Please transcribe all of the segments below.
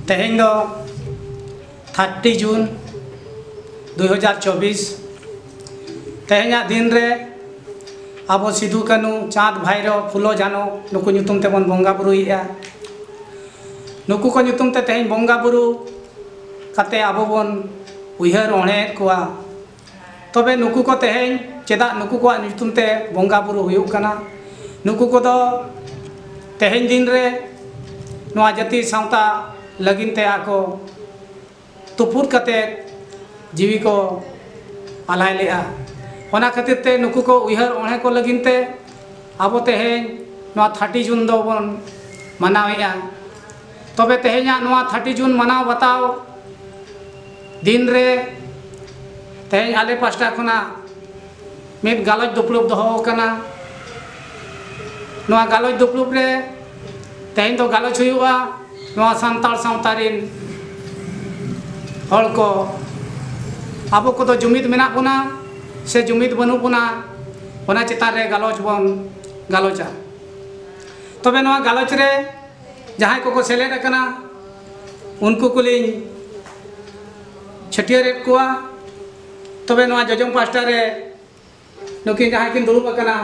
ᱛᱮᱦᱮᱧ ᱫᱚ thirty June ᱫᱩ ᱦᱟᱡᱟᱨ ᱪᱚᱵᱵᱤᱥ ᱛᱮᱦᱮᱧᱟᱜ ᱫᱤᱱ ᱨᱮ ᱟᱵᱚ ᱥᱤᱫᱩ ᱠᱟᱹᱱᱩ ᱪᱟᱸᱫᱽ ᱵᱷᱟᱭᱨᱚ ᱯᱷᱩᱞᱚ ᱡᱷᱟᱱᱚ ᱱᱩᱠᱩ ᱧᱩᱛᱩᱢ ᱛᱮᱵᱚᱱ ᱵᱚᱸᱜᱟ ᱵᱩᱨᱩᱭᱮᱫᱼᱟ ᱱᱩᱠᱩ ᱠᱚ ᱧᱩᱛᱩᱢ ᱛᱮ ᱛᱮᱦᱮᱧ ᱵᱚᱸᱜᱟ ᱵᱩᱨᱩ ᱠᱟᱛᱮ ᱟᱵᱚ ᱵᱚᱱ ᱩᱭᱦᱟᱹᱨ ᱚᱬᱦᱮᱭᱮᱫ ᱠᱚᱣᱟ ᱛᱚᱵᱮ ᱱᱩᱠᱩ ᱠᱚ ᱛᱮᱦᱮᱧ ᱪᱮᱫᱟᱜ ᱱᱩᱠᱩ ᱠᱚᱣᱟᱜ ᱧᱩᱛᱩᱢ ᱛᱮ ᱵᱚᱸᱜᱟ ᱵᱩᱨᱩ ᱦᱩᱭᱩᱜ ᱠᱟᱱᱟ ᱱᱩᱠᱩ ᱠᱚᱫᱚ ᱛᱮᱦᱮᱧ ᱫᱤᱱ ᱨᱮ ᱱᱚᱣᱟ ᱡᱟᱹᱛᱤ ᱥᱟᱶᱛᱟ ᱞᱟᱹᱜᱤᱫ ᱛᱮ ᱟᱠᱚ ᱛᱩᱯᱩᱫ ᱠᱟᱛᱮ ᱡᱤᱣᱤ ᱠᱚ ᱟᱞᱟᱭ ᱞᱮᱜᱼᱟ ᱚᱱᱟ ᱠᱷᱟᱹᱛᱤᱨ ᱛᱮ ᱱᱩᱠᱩ ᱠᱚ ᱩᱭᱦᱟᱹᱨ ᱚᱬᱦᱮ ᱠᱚ ᱞᱟᱹᱜᱤᱫ ᱛᱮ ᱟᱵᱚ ᱛᱮᱦᱮᱧ ᱱᱚᱣᱟ ᱛᱷᱟᱨᱴᱤ ᱡᱩᱱ ᱫᱚᱵᱚᱱ ᱢᱟᱱᱟᱣᱮᱜᱼᱟ ᱛᱚᱵᱮ ᱛᱮᱦᱮᱧᱟᱜ ᱱᱚᱣᱟ ᱛᱷᱟᱨᱴᱤ ᱡᱩᱱ ᱢᱟᱱᱟᱣ ᱵᱟᱛᱟᱣ ᱫᱤᱱ ᱨᱮ ᱛᱮᱦᱮᱧ ᱟᱞᱮ ᱯᱟᱥᱴᱟ ᱠᱷᱚᱱᱟᱜ ᱢᱤᱫ ᱜᱟᱞᱚᱪ ᱫᱩᱯᱲᱩᱵ ᱫᱚᱦᱚ ᱟᱠᱟᱱᱟ ᱱᱚᱣᱟ ᱜᱟᱞᱚᱪ ᱫᱩᱯᱲᱩᱵ ᱨᱮ ᱛᱮᱦᱮᱧ ᱫᱚ ᱜᱟᱞᱚᱪ ᱦᱩᱭᱩᱜᱼᱟ ᱱᱚᱣᱟ ᱥᱟᱱᱛᱟᱲ ᱥᱟᱶᱛᱟ ᱨᱤᱱ ᱦᱚᱲ ᱠᱚ ᱟᱵᱚ ᱠᱚᱫᱚ ᱡᱩᱢᱤᱫ ᱢᱮᱱᱟᱜ ᱵᱚᱱᱟ ᱥᱮ ᱡᱩᱢᱤᱫ ᱵᱟᱹᱱᱩᱜ ᱵᱚᱱᱟ ᱚᱱᱟ ᱪᱮᱛᱟᱱ ᱨᱮ ᱜᱟᱞᱚᱪ ᱵᱚᱱ ᱜᱟᱞᱚᱪᱟ ᱛᱚᱵᱮ ᱱᱚᱣᱟ ᱜᱟᱞᱚᱪ ᱨᱮ ᱡᱟᱦᱟᱸᱭ ᱠᱚᱠᱚ ᱥᱮᱞᱮᱫ ᱟᱠᱟᱱᱟ ᱩᱱᱠᱩ ᱠᱚᱞᱤᱧ ᱪᱷᱟᱹᱴᱭᱟᱹᱨᱮᱫ ᱠᱚᱣᱟ ᱛᱚᱵᱮ ᱱᱚᱣᱟ ᱡᱚᱡᱚᱢ ᱯᱟᱥᱴᱟ ᱨᱮ ᱱᱩᱠᱤᱱ ᱡᱟᱦᱟᱸᱭ ᱠᱤᱱ ᱫᱩᱲᱩᱵ ᱟᱠᱟᱱᱟ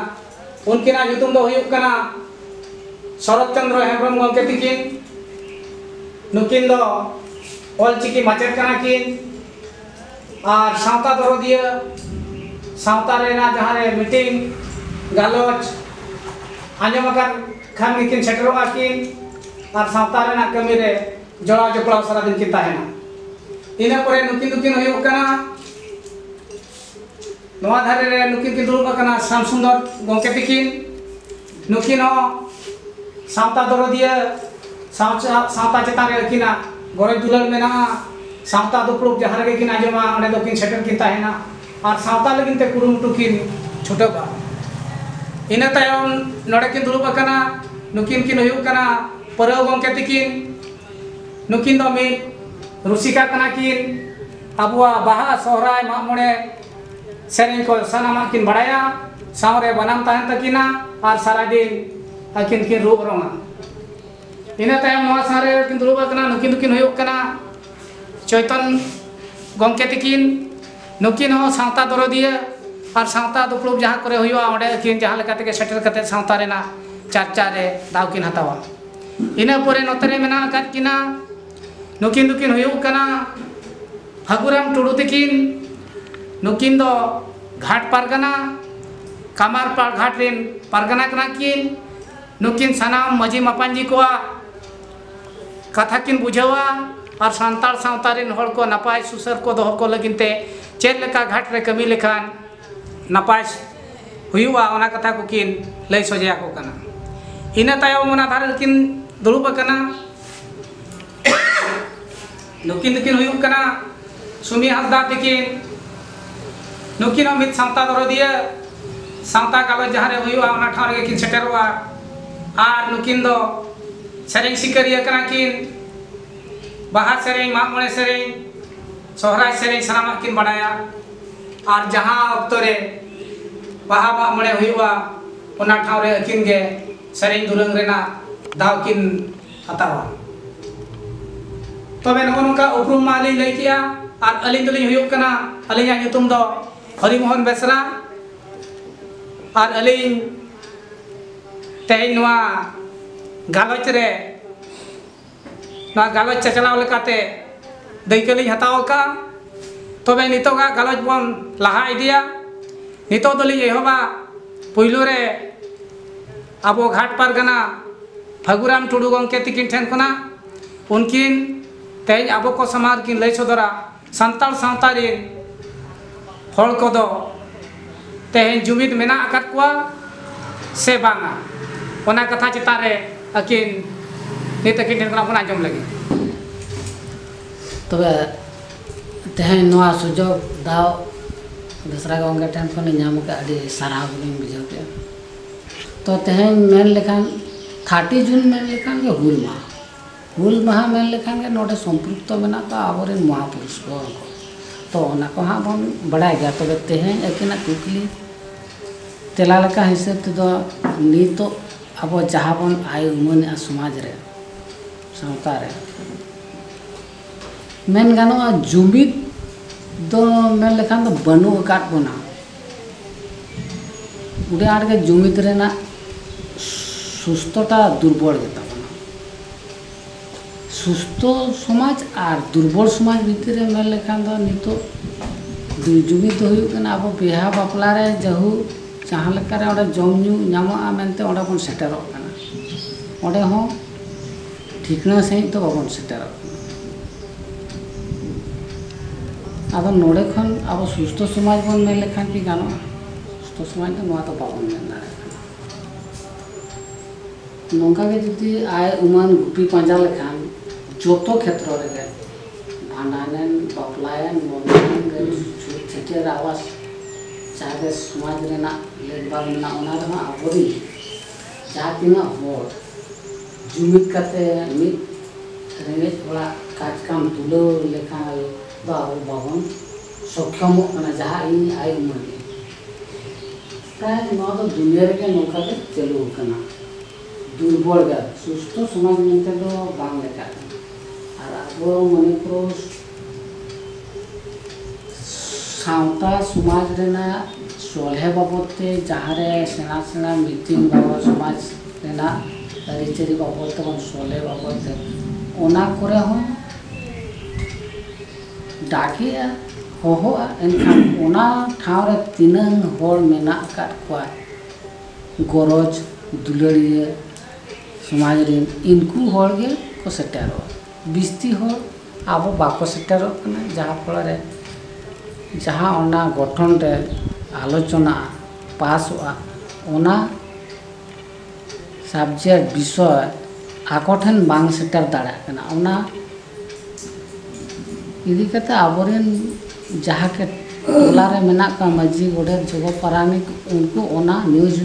ᱩᱱᱠᱤᱱᱟᱜ ᱧᱩᱛᱩᱢ ᱫᱚ ᱦᱩᱭᱩᱜ ᱠᱟᱱᱟ ᱥᱚᱨᱚᱛ ᱪᱚᱱᱫᱨᱚ ᱦᱮᱢᱵᱨᱚᱢ ᱜᱚᱢᱠᱮ ᱛᱤᱠᱤᱱ ᱱᱩᱠᱤᱱ ᱫᱚ ᱚᱞᱪᱤᱠᱤ ᱢᱟᱪᱮᱫ ᱠᱟᱱᱟ ᱠᱤᱱ ᱟᱨ ᱥᱟᱶᱛᱟ ᱫᱚᱨᱚᱫᱤᱭᱟᱹ ᱥᱟᱶᱛᱟ ᱨᱮᱱᱟᱜ ᱡᱟᱦᱟᱸ ᱨᱮ ᱢᱤᱴᱤᱝ ᱜᱟᱞᱚᱪ ᱟᱸᱡᱚᱢ ᱟᱠᱟᱱ ᱠᱷᱟᱱ ᱜᱮᱠᱤᱱ ᱥᱮᱴᱮᱨᱚᱜᱼᱟ ᱠᱤᱱ ᱟᱨ ᱥᱟᱶᱛᱟ ᱨᱮᱱᱟᱜ ᱠᱟᱹᱢᱤ ᱨᱮ ᱡᱚᱲᱟᱣ ᱡᱚᱯᱲᱟᱣ ᱥᱟᱨᱟ ᱫᱤᱱ ᱠᱤᱱ ᱛᱟᱦᱮᱱᱟ ᱤᱱᱟᱹ ᱯᱚᱨᱮ ᱱᱩᱠᱤᱱ ᱫᱚᱠᱤᱱ ᱦᱩᱭᱩᱜ ᱠᱟᱱᱟ ᱱᱚᱣᱟ ᱫᱷᱟᱨᱮ ᱨᱮ ᱱᱩᱠᱤᱱ ᱠᱤᱱ ᱫᱩᱲᱩᱵ ᱟᱠᱟᱱᱟ ᱥᱟᱢ ᱥᱩᱱᱫᱚᱨ ᱜᱚᱢᱠᱮ ᱛᱟᱹᱠᱤᱱ ᱱᱩᱠᱤᱱ ᱦᱚᱸ ᱥᱟᱶᱛᱟ ᱫᱚᱨᱚᱫᱤᱭᱟᱹ ᱥᱟᱶᱛᱟ ᱪᱮᱛᱟᱱ ᱨᱮ ᱟᱹᱠᱤᱱᱟᱜ ᱜᱚᱨᱚᱡᱽ ᱫᱩᱞᱟᱹᱲ ᱢᱮᱱᱟᱜᱼᱟ ᱥᱟᱶᱛᱟ ᱫᱩᱯᱲᱩᱵ ᱡᱟᱦᱟᱸ ᱨᱮᱜᱮ ᱠᱤᱱ ᱟᱸᱡᱚᱢᱟ ᱚᱸᱰᱮ ᱫᱚ ᱠᱤᱱ ᱥᱮᱴᱮᱨ ᱠᱤᱱ ᱛᱟᱦᱮᱱᱟ ᱟᱨ ᱥᱟᱶᱛᱟ ᱞᱟᱹᱜᱤᱫ ᱛᱮ ᱠᱩᱨᱩᱢᱩᱴᱩ ᱠᱤᱱ ᱪᱷᱩᱴᱟᱹᱜᱼᱟ ᱤᱱᱟᱹ ᱛᱟᱭᱚᱢ ᱱᱚᱰᱮ ᱠᱤᱱ ᱫᱩᱲᱩᱵ ᱟᱠᱟᱱᱟ ᱱᱩᱠᱤᱱ ᱠᱤᱱ ᱦᱩᱭᱩᱜ ᱠᱟᱱᱟ ᱯᱟᱹᱨᱟᱹᱣ ᱜᱚᱢᱠᱮ ᱛᱤᱠᱤᱱ ᱱᱩᱠᱤᱱ ᱫᱚ ᱢᱤᱫ ᱨᱩᱥᱤᱠᱟ ᱠᱟᱱᱟ ᱠᱤᱱ ᱟᱵᱚᱣᱟᱜ ᱵᱟᱦᱟ ᱥᱚᱦᱨᱟᱭ ᱢᱟᱜ ᱢᱚᱬᱮ ᱥᱮᱨᱮᱧ ᱠᱚ ᱥᱟᱱᱟᱢᱟᱜ ᱠᱤᱱ ᱵᱟᱲᱟᱭᱟ ᱥᱟᱶᱨᱮ ᱵᱟᱱᱟᱢ ᱛᱟᱦᱮᱱ ᱛᱟᱹᱠᱤᱱᱟ ᱟᱨ ᱥᱟᱨᱟᱫᱤᱱ ᱟᱹᱠᱤᱱ ᱠᱤᱱ ᱨᱩ ᱚᱨᱚᱝᱟ ᱤᱱᱟᱹ ᱛᱟᱭᱚᱢ ᱱᱚᱣᱟ ᱥᱟᱶᱨᱮ ᱠᱤᱱ ᱫᱩᱲᱩᱵ ᱟᱠᱟᱱᱟ ᱱᱩᱠᱤᱱ ᱫᱚᱠᱤᱱ ᱦᱩᱭᱩᱜ ᱠᱟᱱᱟ ᱪᱚᱭᱛᱚᱱ ᱜᱚᱢᱠᱮ ᱛᱤᱠᱤᱱ ᱱᱩᱠᱤᱱ ᱦᱚᱸ ᱥᱟᱶᱛᱟ ᱫᱚᱨᱚᱫᱤᱭᱟᱹ ᱟᱨ ᱥᱟᱶᱛᱟ ᱫᱩᱯᱲᱩᱵ ᱡᱟᱦᱟᱸ ᱠᱚᱨᱮ ᱦᱩᱭᱩᱜᱼᱟ ᱚᱸᱰᱮ ᱟᱹᱠᱤᱱ ᱡᱟᱦᱟᱸ ᱞᱮᱠᱟ ᱛᱮᱜᱮ ᱥᱮᱴᱮᱨ ᱠᱟᱛᱮ ᱥᱟᱶᱛᱟ ᱨᱮᱱᱟᱜ ᱪᱟᱨᱪᱟ ᱨᱮ ᱫᱟᱣ ᱠᱤᱱ ᱦᱟᱛᱟᱣᱟ ᱤᱱᱟᱹ ᱯᱚᱨᱮ ᱱᱚᱛᱮ ᱨᱮ ᱢᱮᱱᱟᱜ ᱟᱠᱟᱫ ᱠᱤᱱᱟ ᱱᱩᱠᱤᱱ ᱫᱚᱠᱤᱱ ᱦᱩᱭᱩᱜ ᱠᱟᱱᱟ ᱯᱷᱟᱹᱜᱩᱨᱟᱢ ᱴᱩᱰᱩ ᱛᱤᱠᱤᱱ ᱱᱩᱠᱤᱱ ᱫᱚ ᱜᱷᱟᱴ ᱯᱟᱨᱜᱟᱱᱟ ᱠᱟᱢᱟᱨᱯᱟᱲ ᱜᱷᱟᱴ ᱨᱮᱱ ᱯᱟᱨᱜᱟᱱᱟ ᱠᱟᱱᱟ ᱠᱤᱱ ᱱᱩᱠᱤᱱ ᱥᱟᱱᱟᱢ ᱢᱟᱹᱡᱷᱤ ᱢᱟᱯᱟᱧᱡᱤ ᱠᱚᱣᱟᱜ ᱠᱟᱛᱷᱟ ᱠᱤᱱ ᱵᱩᱡᱷᱟᱹᱣᱟ ᱟᱨ ᱥᱟᱱᱛᱟᱲ ᱥᱟᱶᱛᱟ ᱨᱮᱱ ᱦᱚᱲ ᱠᱚ ᱱᱟᱯᱟᱭ ᱥᱩᱥᱟᱹᱨ ᱠᱚ ᱫᱚᱦᱚ ᱠᱚ ᱞᱟᱹᱜᱤᱫ ᱛᱮ ᱪᱮᱫ ᱞᱮᱠᱟ ᱜᱷᱟᱴ ᱨᱮ ᱠᱟᱹᱢᱤ ᱞᱮᱠᱷᱟᱱ ᱱᱟᱯᱟᱭ ᱦᱩᱭᱩᱜᱼᱟ ᱚᱱᱟ ᱠᱟᱛᱷᱟ ᱠᱚᱠᱤᱱ ᱞᱟᱹᱭ ᱥᱚᱡᱷᱮ ᱟᱠᱚ ᱠᱟᱱᱟ ᱤᱱᱟᱹ ᱛᱟᱭᱚᱢ ᱚᱱᱟ ᱫᱷᱟᱨᱮ ᱨᱮᱠᱤᱱ ᱫᱩᱲᱩᱵ ᱟᱠᱟᱱᱟ ᱱᱩᱠᱤᱱ ᱫᱚᱠᱤᱱ ᱦᱩᱭᱩᱜ ᱠᱟᱱᱟ ᱥᱩᱢᱤ ᱦᱟᱸᱥᱫᱟ ᱛᱤᱠᱤᱱ ᱱᱩᱠᱤᱱ ᱦᱚᱸ ᱢᱤᱫ ᱥᱟᱶᱛᱟ ᱫᱚᱨᱚᱫᱤᱭᱟᱹ ᱥᱟᱶᱛᱟ ᱜᱟᱞᱚᱪ ᱡᱟᱦᱟᱸ ᱨᱮ ᱦᱩᱭᱩᱜᱼᱟ ᱚᱱᱟ ᱴᱷᱟᱶ ᱨᱮᱜᱮ ᱠᱤᱱ ᱥᱮᱴᱮᱨᱚᱜᱼᱟ ᱟᱨ ᱱᱩᱠᱤᱱ ᱫᱚ ᱥᱮᱨᱮᱧ ᱥᱤᱠᱟᱹᱨᱤᱭᱟᱹ ᱠᱟᱱᱟ ᱠᱤᱱ ᱵᱟᱦᱟ ᱥᱮᱨᱮᱧ ᱢᱟᱜ ᱢᱚᱬᱮ ᱥᱮᱨᱮᱧ ᱥᱚᱦᱨᱟᱭ ᱥᱮᱨᱮᱧ ᱥᱟᱱᱟᱢᱟᱜ ᱠᱤᱱ ᱵᱟᱰᱟᱭᱟ ᱟᱨ ᱡᱟᱦᱟᱸ ᱚᱠᱛᱚ ᱨᱮ ᱵᱟᱦᱟ ᱢᱟᱜ ᱢᱚᱬᱮ ᱦᱩᱭᱩᱜᱼᱟ ᱚᱱᱟ ᱴᱷᱟᱶ ᱨᱮ ᱟᱹᱠᱤᱱ ᱜᱮ ᱥᱮᱨᱮᱧ ᱫᱩᱨᱟᱹᱝ ᱨᱮᱱᱟᱜ ᱫᱟᱣ ᱠᱤᱱ ᱦᱟᱛᱟᱣᱟ᱾ ᱛᱚᱵᱮ ᱱᱚᱜᱼᱚ ᱱᱚᱝᱠᱟ ᱩᱯᱨᱩᱢ ᱢᱟ ᱞᱤᱧ ᱞᱟᱹᱭ ᱠᱮᱫᱼᱟ ᱟᱨ ᱟᱹᱞᱤᱧ ᱫᱚᱞᱤᱧ ᱦᱩᱭᱩᱜ ᱠᱟᱱᱟ ᱟᱹᱞᱤᱧᱟᱜ ᱧᱩᱛᱩᱢ ᱫᱚ ᱦᱚᱨᱤ ᱢᱚᱦᱚᱱ ᱵᱮᱥᱨᱟ ᱟᱨ ᱟᱹᱞᱤᱧ ᱛᱮᱦᱮᱧ ᱱᱚᱣᱟ ᱜᱟᱞᱚᱪ ᱨᱮ ᱱᱚᱣᱟ ᱜᱟᱞᱚᱪ ᱪᱟᱪᱞᱟᱣ ᱞᱮᱠᱟᱛᱮ ᱫᱟᱹᱭᱠᱟᱹ ᱞᱤᱧ ᱦᱟᱛᱟᱣ ᱟᱠᱟᱫᱼᱟ ᱛᱚᱵᱮ ᱱᱤᱛᱚᱜᱟᱜ ᱜᱟᱞᱚᱪ ᱵᱚᱱ ᱞᱟᱦᱟ ᱤᱫᱤᱭᱟ ᱱᱤᱛᱚᱜ ᱫᱚᱞᱤᱧ ᱮᱦᱚᱵᱟ ᱯᱩᱭᱞᱩ ᱨᱮ ᱟᱵᱚ ᱜᱷᱟᱴ ᱯᱟᱨᱜᱟᱱᱟ ᱯᱷᱟᱹᱜᱩᱨᱟᱢ ᱴᱩᱰᱩ ᱜᱚᱢᱠᱮ ᱛᱤᱠᱤᱱ ᱴᱷᱮᱱ ᱠᱷᱚᱱᱟᱜ ᱩᱱᱠᱤᱱ ᱛᱮᱦᱮᱧ ᱟᱵᱚ ᱠᱚ ᱥᱟᱢᱟᱝ ᱨᱮᱠᱤᱱ ᱞᱟᱹᱭ ᱥᱚᱫᱚᱨᱟ ᱥᱟᱱᱛᱟᱲ ᱥᱟᱶᱛᱟ ᱨᱮᱱ ᱦᱚᱲ ᱠᱚᱫᱚ ᱛᱮᱦᱮᱧ ᱡᱩᱢᱤᱫ ᱢᱮᱱᱟᱜ ᱟᱠᱟᱫ ᱠᱚᱣᱟ ᱥᱮ ᱵᱟᱝᱟ ᱚᱱᱟ ᱠᱟᱛᱷᱟ ᱪᱮᱛᱟᱱ ᱨᱮ ᱟᱹᱠᱤᱱ ᱱᱤᱛ ᱟᱹᱠᱤᱱ ᱴᱷᱮᱱ ᱠᱷᱚᱱᱟᱜ ᱵᱚᱱ ᱟᱸᱡᱚᱢ ᱞᱟᱹᱜᱤᱫ ᱛᱚᱵᱮ ᱛᱮᱦᱮᱧ ᱱᱚᱣᱟ ᱥᱩᱡᱳᱜᱽ ᱫᱟᱣ ᱵᱮᱥᱨᱟ ᱜᱚᱢᱠᱮ ᱴᱷᱮᱱ ᱠᱷᱚᱱᱤᱧ ᱧᱟᱢ ᱠᱮᱫᱼᱟ ᱟᱹᱰᱤ ᱥᱟᱨᱦᱟᱣ ᱜᱮᱞᱤᱧ ᱵᱩᱡᱷᱟᱹᱣ ᱠᱮᱫᱼᱟ ᱛᱚ ᱛᱮᱦᱮᱧ ᱢᱮᱱ ᱞᱮᱠᱷᱟᱱ ᱛᱷᱟᱨᱴᱤ ᱡᱩᱱ ᱢᱮᱱ ᱞᱮᱠᱷᱟᱱ ᱜᱮ ᱦᱩᱞ ᱢᱟᱦᱟ ᱦᱩᱞ ᱢᱟᱦᱟ ᱢᱮᱱ ᱞᱮᱠᱷᱟᱱ ᱜᱮ ᱱᱚᱰᱮ ᱥᱚᱢᱯᱨᱩᱠᱛᱚ ᱢᱮᱱᱟᱜ ᱠᱚᱣᱟ ᱟᱵᱚ ᱨᱮᱱ ᱢᱚᱦᱟ ᱯᱩᱨᱩᱥ ᱠᱚ ᱛᱚ ᱚᱱᱟ ᱠᱚ ᱦᱟᱸᱜ ᱵᱚᱱ ᱵᱟᱲᱟᱭ ᱜᱮᱭᱟ ᱛᱚᱵᱮ ᱛᱮᱦᱮᱧ ᱟᱹᱠᱤᱱᱟᱜ ᱠᱩᱠᱞᱤ ᱛᱮᱞᱟ ᱞᱮᱠᱟ ᱦᱤᱥᱟᱹᱵ ᱛᱮᱫᱚ ᱱᱤᱛᱚᱜ ᱟᱵᱚ ᱡᱟᱦᱟᱸ ᱵᱚᱱ ᱟᱭ ᱩᱢᱟᱹᱱᱮᱜᱼᱟ ᱥᱚᱢᱟᱡᱽ ᱨᱮ ᱥᱟᱶᱛᱟ ᱨᱮ ᱢᱮᱱ ᱜᱟᱱᱚᱜᱼᱟ ᱡᱩᱢᱤᱫ ᱫᱚ ᱢᱮᱱ ᱞᱮᱠᱷᱟᱱ ᱫᱚ ᱵᱟᱹᱱᱩᱜ ᱟᱠᱟᱫ ᱵᱚᱱᱟ ᱩᱰᱤ ᱟᱸᱴ ᱜᱮ ᱡᱩᱢᱤᱫ ᱨᱮᱱᱟᱜ ᱥᱩᱥᱛᱚᱴᱟ ᱫᱩᱨᱵᱚᱞ ᱜᱮ ᱛᱟᱵᱚᱱᱟ ᱥᱩᱥᱛᱚ ᱥᱚᱢᱟᱡᱽ ᱟᱨ ᱫᱩᱨᱵᱚᱞ ᱥᱚᱢᱟᱡᱽ ᱵᱷᱤᱛᱤᱨ ᱨᱮ ᱢᱮᱱ ᱞᱮᱠᱷᱟᱱ ᱫᱚ ᱱᱤᱛᱚᱜ ᱡᱩᱢᱤᱫ ᱫᱚ ᱦᱩᱭᱩᱜ ᱠᱟᱱᱟ ᱟᱵᱚ ᱵᱤᱦᱟ ᱵᱟᱯᱞᱟ ᱨᱮ ᱡᱟᱹᱦᱩ ᱡᱟᱦᱟᱸ ᱞᱮᱠᱟ ᱨᱮ ᱚᱸᱰᱮ ᱡᱚᱢ ᱧᱩ ᱧᱟᱢᱚᱜᱼᱟ ᱢᱮᱱᱛᱮ ᱚᱸᱰᱮ ᱵᱚᱱ ᱥᱮᱴᱮᱨᱚᱜ ᱠᱟᱱᱟ ᱚᱸᱰᱮ ᱦᱚᱸ ᱴᱷᱤᱠᱱᱟ ᱥᱟᱺᱦᱤᱡ ᱫᱚ ᱵᱟᱵᱚᱱ ᱥᱮᱴᱮᱨᱚᱜ ᱠᱟᱱᱟ ᱟᱫᱚ ᱱᱚᱰᱮ ᱠᱷᱚᱱ ᱟᱵᱚ ᱥᱩᱥᱛᱷᱚ ᱥᱚᱢᱟᱡᱽ ᱵᱚᱱ ᱢᱮᱱ ᱞᱮᱠᱷᱟᱱ ᱠᱤ ᱜᱟᱱᱚᱜᱼᱟ ᱥᱩᱥᱛᱷᱚ ᱥᱚᱢᱟᱡᱽ ᱫᱚ ᱱᱚᱣᱟ ᱫᱚ ᱵᱟᱵᱚᱱ ᱢᱮᱱ ᱫᱟᱲᱮᱭᱟᱜ ᱠᱟᱱᱟ ᱱᱚᱝᱠᱟ ᱜᱮ ᱡᱩᱫᱤ ᱟᱭ ᱩᱢᱟᱹᱱ ᱜᱩᱯᱤ ᱯᱟᱸᱡᱟ ᱞᱮᱠᱷᱟᱱ ᱡᱚᱛᱚ ᱠᱷᱮᱛᱨᱚ ᱨᱮᱜᱮ ᱵᱷᱟᱸᱰᱟᱱᱮᱱ ᱵᱟᱯᱞᱟᱭᱮᱱ ᱢᱚᱨᱱᱟᱭᱮᱱ ᱪᱷᱩᱛ ᱪᱷᱟᱹᱴᱭᱟᱹᱨ ᱟᱵᱟᱥ ᱡᱟᱦᱟᱸ ᱜᱮ ᱥᱚᱢᱟᱡᱽ ᱨᱮᱱᱟᱜ ᱞᱮᱠᱵᱟᱞ ᱢᱮᱱᱟᱜᱼᱟ ᱚᱱᱟ ᱨᱮᱦᱚᱸ ᱟᱵᱚᱨᱤᱱ ᱡᱟᱦᱟᱸ ᱛᱤᱱᱟᱹᱜ ᱦᱚᱲ ᱡᱩᱢᱤᱫ ᱠᱟᱛᱮ ᱢᱤᱫ ᱨᱮᱸᱜᱮᱡ ᱦᱚᱲᱟᱜ ᱠᱟᱡᱽ ᱠᱟᱢ ᱛᱩᱞᱟᱹᱣ ᱞᱮᱠᱷᱟᱱ ᱫᱚ ᱟᱵᱚ ᱵᱟᱵᱚᱱ ᱥᱚᱠᱠᱷᱚᱢᱚᱜ ᱠᱟᱱᱟ ᱡᱟᱦᱟᱸ ᱤᱧ ᱟᱭ ᱩᱢᱟᱹᱱ ᱜᱮ ᱯᱨᱟᱭ ᱱᱚᱣᱟ ᱫᱚ ᱫᱩᱱᱤᱭᱟᱹ ᱨᱮᱜᱮ ᱱᱚᱝᱠᱟ ᱜᱮ ᱪᱟᱹᱞᱩ ᱟᱠᱟᱱᱟ ᱫᱩᱨᱵᱚᱞ ᱜᱮᱭᱟ ᱥᱩᱥᱛᱷᱚ ᱥᱚᱢᱟᱡᱽ ᱢᱮᱱᱛᱮ ᱫᱚ ᱵᱟᱝ ᱞᱮᱠᱷᱟᱜ ᱠᱟᱱᱟ ᱟᱨ ᱟᱵᱚ ᱢᱚᱱᱤᱯᱩᱨ ᱥᱟᱶᱛᱟ ᱥᱚᱢᱟᱡᱽ ᱨᱮᱱᱟᱜ ᱥᱚᱞᱦᱮ ᱵᱟᱵᱚᱛ ᱛᱮ ᱡᱟᱦᱟᱸ ᱨᱮ ᱥᱮᱬᱟ ᱥᱮᱬᱟ ᱢᱤᱴᱤᱝ ᱵᱟᱵᱚ ᱥᱚᱢᱟᱡᱽ ᱨᱮᱱᱟᱜ ᱟᱹᱨᱤᱪᱟᱹᱞᱤ ᱵᱟᱵᱚᱛ ᱛᱮ ᱵᱟᱝ ᱥᱚᱞᱦᱮ ᱵᱟᱵᱚᱛ ᱛᱮ ᱚᱱᱟ ᱠᱚᱨᱮ ᱦᱚᱸ ᱰᱟᱠᱮᱜᱼᱟ ᱦᱚᱦᱚᱜᱼᱟ ᱮᱱᱠᱷᱟᱱ ᱚᱱᱟ ᱴᱷᱟᱶ ᱨᱮ ᱛᱤᱱᱟᱹᱝ ᱦᱚᱲ ᱢᱮᱱᱟᱜ ᱟᱠᱟᱫ ᱠᱚᱣᱟ ᱜᱚᱨᱚᱡᱽ ᱫᱩᱞᱟᱹᱲᱤᱭᱟᱹ ᱥᱚᱢᱟᱡᱽ ᱨᱮᱱ ᱤᱱᱠᱩ ᱦᱚᱲ ᱜᱮᱠᱚ ᱥᱮᱴᱮᱨᱚᱜᱼᱟ ᱵᱤᱥᱛᱤ ᱦᱚᱲ ᱟᱵᱚ ᱵᱟᱠᱚ ᱥᱮᱴᱮᱨᱚᱜ ᱠᱟᱱᱟ ᱡᱟᱦᱟᱸ ᱯᱷᱚᱞᱚ ᱨᱮ ᱡᱟᱦᱟᱸ ᱚᱱᱟ ᱜᱚᱴᱷᱚᱱ ᱨᱮ ᱟᱞᱳᱪᱚᱱᱟ ᱯᱟᱥᱚᱜᱼᱟ ᱚᱱᱟ ᱥᱟᱵᱽᱡᱮᱠᱴ ᱵᱤᱥᱚᱭ ᱟᱠᱚ ᱴᱷᱮᱱ ᱵᱟᱝ ᱥᱮᱴᱮᱨ ᱫᱟᱲᱮᱭᱟᱜ ᱠᱟᱱᱟ ᱚᱱᱟ ᱤᱫᱤ ᱠᱟᱛᱮ ᱟᱵᱚ ᱨᱮᱱ ᱡᱟᱦᱟᱸ ᱜᱮ ᱴᱚᱞᱟ ᱨᱮ ᱢᱮᱱᱟᱜ ᱠᱚᱣᱟ ᱢᱟᱹᱡᱷᱤ ᱜᱚᱰᱮᱛ ᱡᱚᱜᱚ ᱯᱟᱨᱟᱱᱤᱠ ᱩᱱᱠᱩ ᱚᱱᱟ ᱱᱤᱭᱩᱡᱽ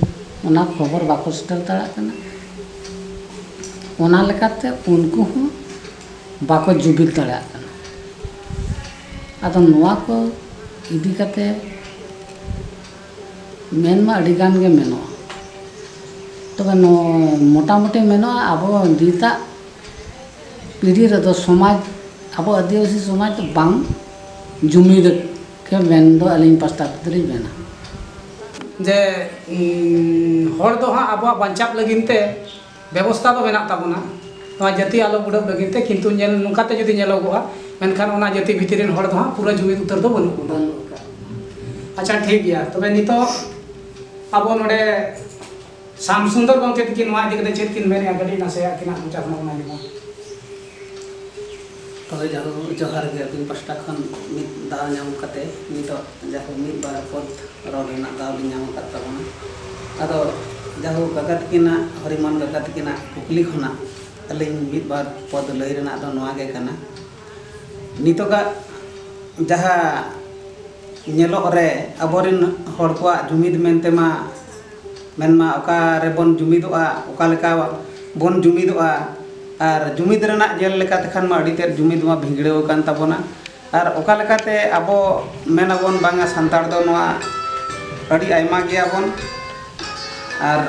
ᱚᱱᱟ ᱠᱷᱚᱵᱚᱨ ᱵᱟᱠᱚ ᱥᱮᱴᱮᱨ ᱫᱟᱲᱮᱭᱟᱜ ᱠᱟᱱᱟ ᱚᱱᱟ ᱞᱮᱠᱟᱛᱮ ᱩᱱᱠᱩ ᱦᱚᱸ ᱵᱟᱠᱚ ᱡᱩᱢᱤᱫ ᱫᱟᱲᱮᱭᱟᱜ ᱠᱟᱱᱟ ᱟᱫᱚ ᱱᱚᱣᱟ ᱠᱚ ᱤᱫᱤ ᱠᱟᱛᱮ ᱢᱮᱱ ᱢᱟ ᱟᱹᱰᱤ ᱜᱟᱱ ᱜᱮ ᱢᱮᱱᱚᱜᱼᱟ ᱛᱚᱵᱮ ᱢᱚᱴᱟᱢᱩᱴᱤ ᱢᱮᱱᱚᱜᱼᱟ ᱟᱵᱚ ᱱᱤᱛᱟᱜ ᱯᱤᱲᱦᱤ ᱨᱮᱫᱚ ᱥᱚᱢᱟᱡᱽ ᱟᱵᱚ ᱟᱹᱫᱤᱵᱟᱹᱥᱤ ᱥᱚᱢᱟᱡᱽ ᱫᱚ ᱵᱟᱝ ᱡᱩᱢᱤᱫ ᱠᱮ ᱢᱮᱱ ᱫᱚ ᱟᱹᱞᱤᱧ ᱯᱟᱥᱴᱟ ᱠᱷᱚᱱ ᱫᱚᱞᱤᱧ ᱢᱮᱱᱟ ᱡᱮ ᱦᱚᱲ ᱫᱚ ᱦᱟᱸᱜ ᱟᱵᱚᱣᱟᱜ ᱵᱟᱧᱪᱟᱜ ᱞᱟᱹᱜᱤᱫ ᱛᱮ ᱵᱮᱵᱚᱥᱛᱟ ᱫᱚ ᱢᱮᱱᱟᱜ ᱛᱟᱵᱚᱱᱟ ᱱᱚᱣᱟ ᱡᱟᱹᱛᱤ ᱟᱞᱚ ᱵᱩᱰᱟᱹᱜ ᱞᱟᱹᱜᱤᱫ ᱛᱮ ᱠᱤᱱᱛᱩ ᱧᱮᱞ ᱱᱚᱝᱠᱟ ᱛᱮ ᱡᱩᱫᱤ ᱧᱮᱞᱚᱜᱚᱜᱼᱟ ᱢᱮᱱᱠᱷᱟᱱ ᱚᱱᱟ ᱡᱟᱹᱛᱤ ᱵᱷᱤᱛᱤᱨ ᱨᱮᱱ ᱦᱚᱲ ᱫᱚ ᱦᱟᱸᱜ ᱯᱩᱨᱟᱹ ᱡᱩᱢᱤᱫ ᱩᱛᱟᱹᱨ ᱫᱚ ᱵᱟᱹᱱᱩᱜ ᱵᱚᱱᱟ ᱟᱪᱪᱷᱟ ᱴᱷᱤᱠ ᱜᱮᱭᱟ ᱛᱚᱵᱮ ᱱᱤᱛᱚᱜ ᱟᱵᱚ ᱱᱚᱰᱮ ᱥᱟᱢ ᱥᱩᱱᱫᱚᱨ ᱜᱚᱢᱠᱮ ᱛᱤᱠᱤᱱ ᱱᱚᱣᱟ ᱤᱫᱤ ᱠᱟᱛᱮ ᱪᱮᱫ ᱠᱤᱱ ᱢᱮᱱᱮᱜᱼᱟ ᱠᱟᱹᱴᱤᱡ ᱱᱟᱥᱮ ᱟᱹᱠᱤᱱᱟᱜ ᱢᱚᱪᱟ ᱠᱷᱚᱱ ᱵᱚᱱ ᱟᱸᱡᱚᱢᱟ ᱛᱚᱵᱮ ᱡᱟᱦᱳ ᱡᱚᱦᱟᱨ ᱜᱮ ᱟᱹᱵᱤᱱ ᱯᱟᱥᱴᱟ ᱠᱷᱚᱱ ᱢᱤᱫ ᱫᱟᱣ ᱧᱟᱢ ᱠᱟᱛᱮ ᱱᱤᱛᱚᱜ ᱡᱟᱦᱳ ᱢᱤᱫ ᱵᱟᱨ ᱯᱚᱫ ᱨᱚᱲ ᱨᱮᱱᱟᱜ ᱫᱟᱣ ᱞᱤᱧ ᱧᱟᱢ ᱟᱠᱟᱫ ᱛᱟᱵᱚᱱᱟ ᱟᱫᱚ ᱡᱟᱦᱳ ᱠᱟᱠᱟ ᱛᱤᱠᱤᱱᱟᱜ ᱦᱚᱨᱤᱢᱚᱱ ᱠᱟᱠᱟ ᱛᱤᱠᱤᱱᱟᱜ ᱠᱩᱠᱞᱤ ᱠᱷᱚᱱᱟᱜ ᱟᱹᱞᱤᱧ ᱢᱤᱫ ᱵᱟᱨ ᱯᱚᱫ ᱞᱟᱹᱭ ᱨᱮᱱᱟᱜ ᱫᱚ ᱱᱚᱣᱟ ᱜᱮ ᱠᱟᱱᱟ ᱱᱤᱛᱚᱜᱟᱜ ᱡᱟᱦᱟᱸ ᱧᱮᱞᱚᱜ ᱨᱮ ᱟᱵᱚᱨᱮᱱ ᱦᱚᱲ ᱠᱚᱣᱟᱜ ᱡᱩᱢᱤᱫ ᱢᱮᱱᱛᱮ ᱢᱟ ᱢᱮᱱᱢᱟ ᱚᱠᱟ ᱨᱮᱵᱚᱱ ᱡᱩᱢᱤᱫᱚᱜᱼᱟ ᱚᱠᱟ ᱞᱮᱠᱟ ᱵᱚᱱ ᱡᱩᱢᱤᱫᱚᱜᱼᱟ ᱟᱨ ᱡᱩᱢᱤᱫ ᱨᱮᱱᱟᱜ ᱧᱮᱞ ᱞᱮᱠᱟ ᱛᱮᱠᱷᱟᱱ ᱢᱟ ᱟᱹᱰᱤ ᱛᱮᱫ ᱡᱩᱢᱤᱫ ᱢᱟ ᱵᱷᱤᱸᱫᱽᱲᱟᱹᱣ ᱟᱠᱟᱱ ᱛᱟᱵᱚᱱᱟ ᱟᱨ ᱚᱠᱟ ᱞᱮᱠᱟᱛᱮ ᱟᱵᱚ ᱢᱮᱱ ᱟᱵᱚᱱ ᱵᱟᱝᱟ ᱥᱟᱱᱛᱟᱲ ᱫᱚ ᱱᱚᱣᱟ ᱟᱹᱰᱤ ᱟᱭᱢᱟ ᱜᱮᱭᱟᱵᱚᱱ ᱟᱨ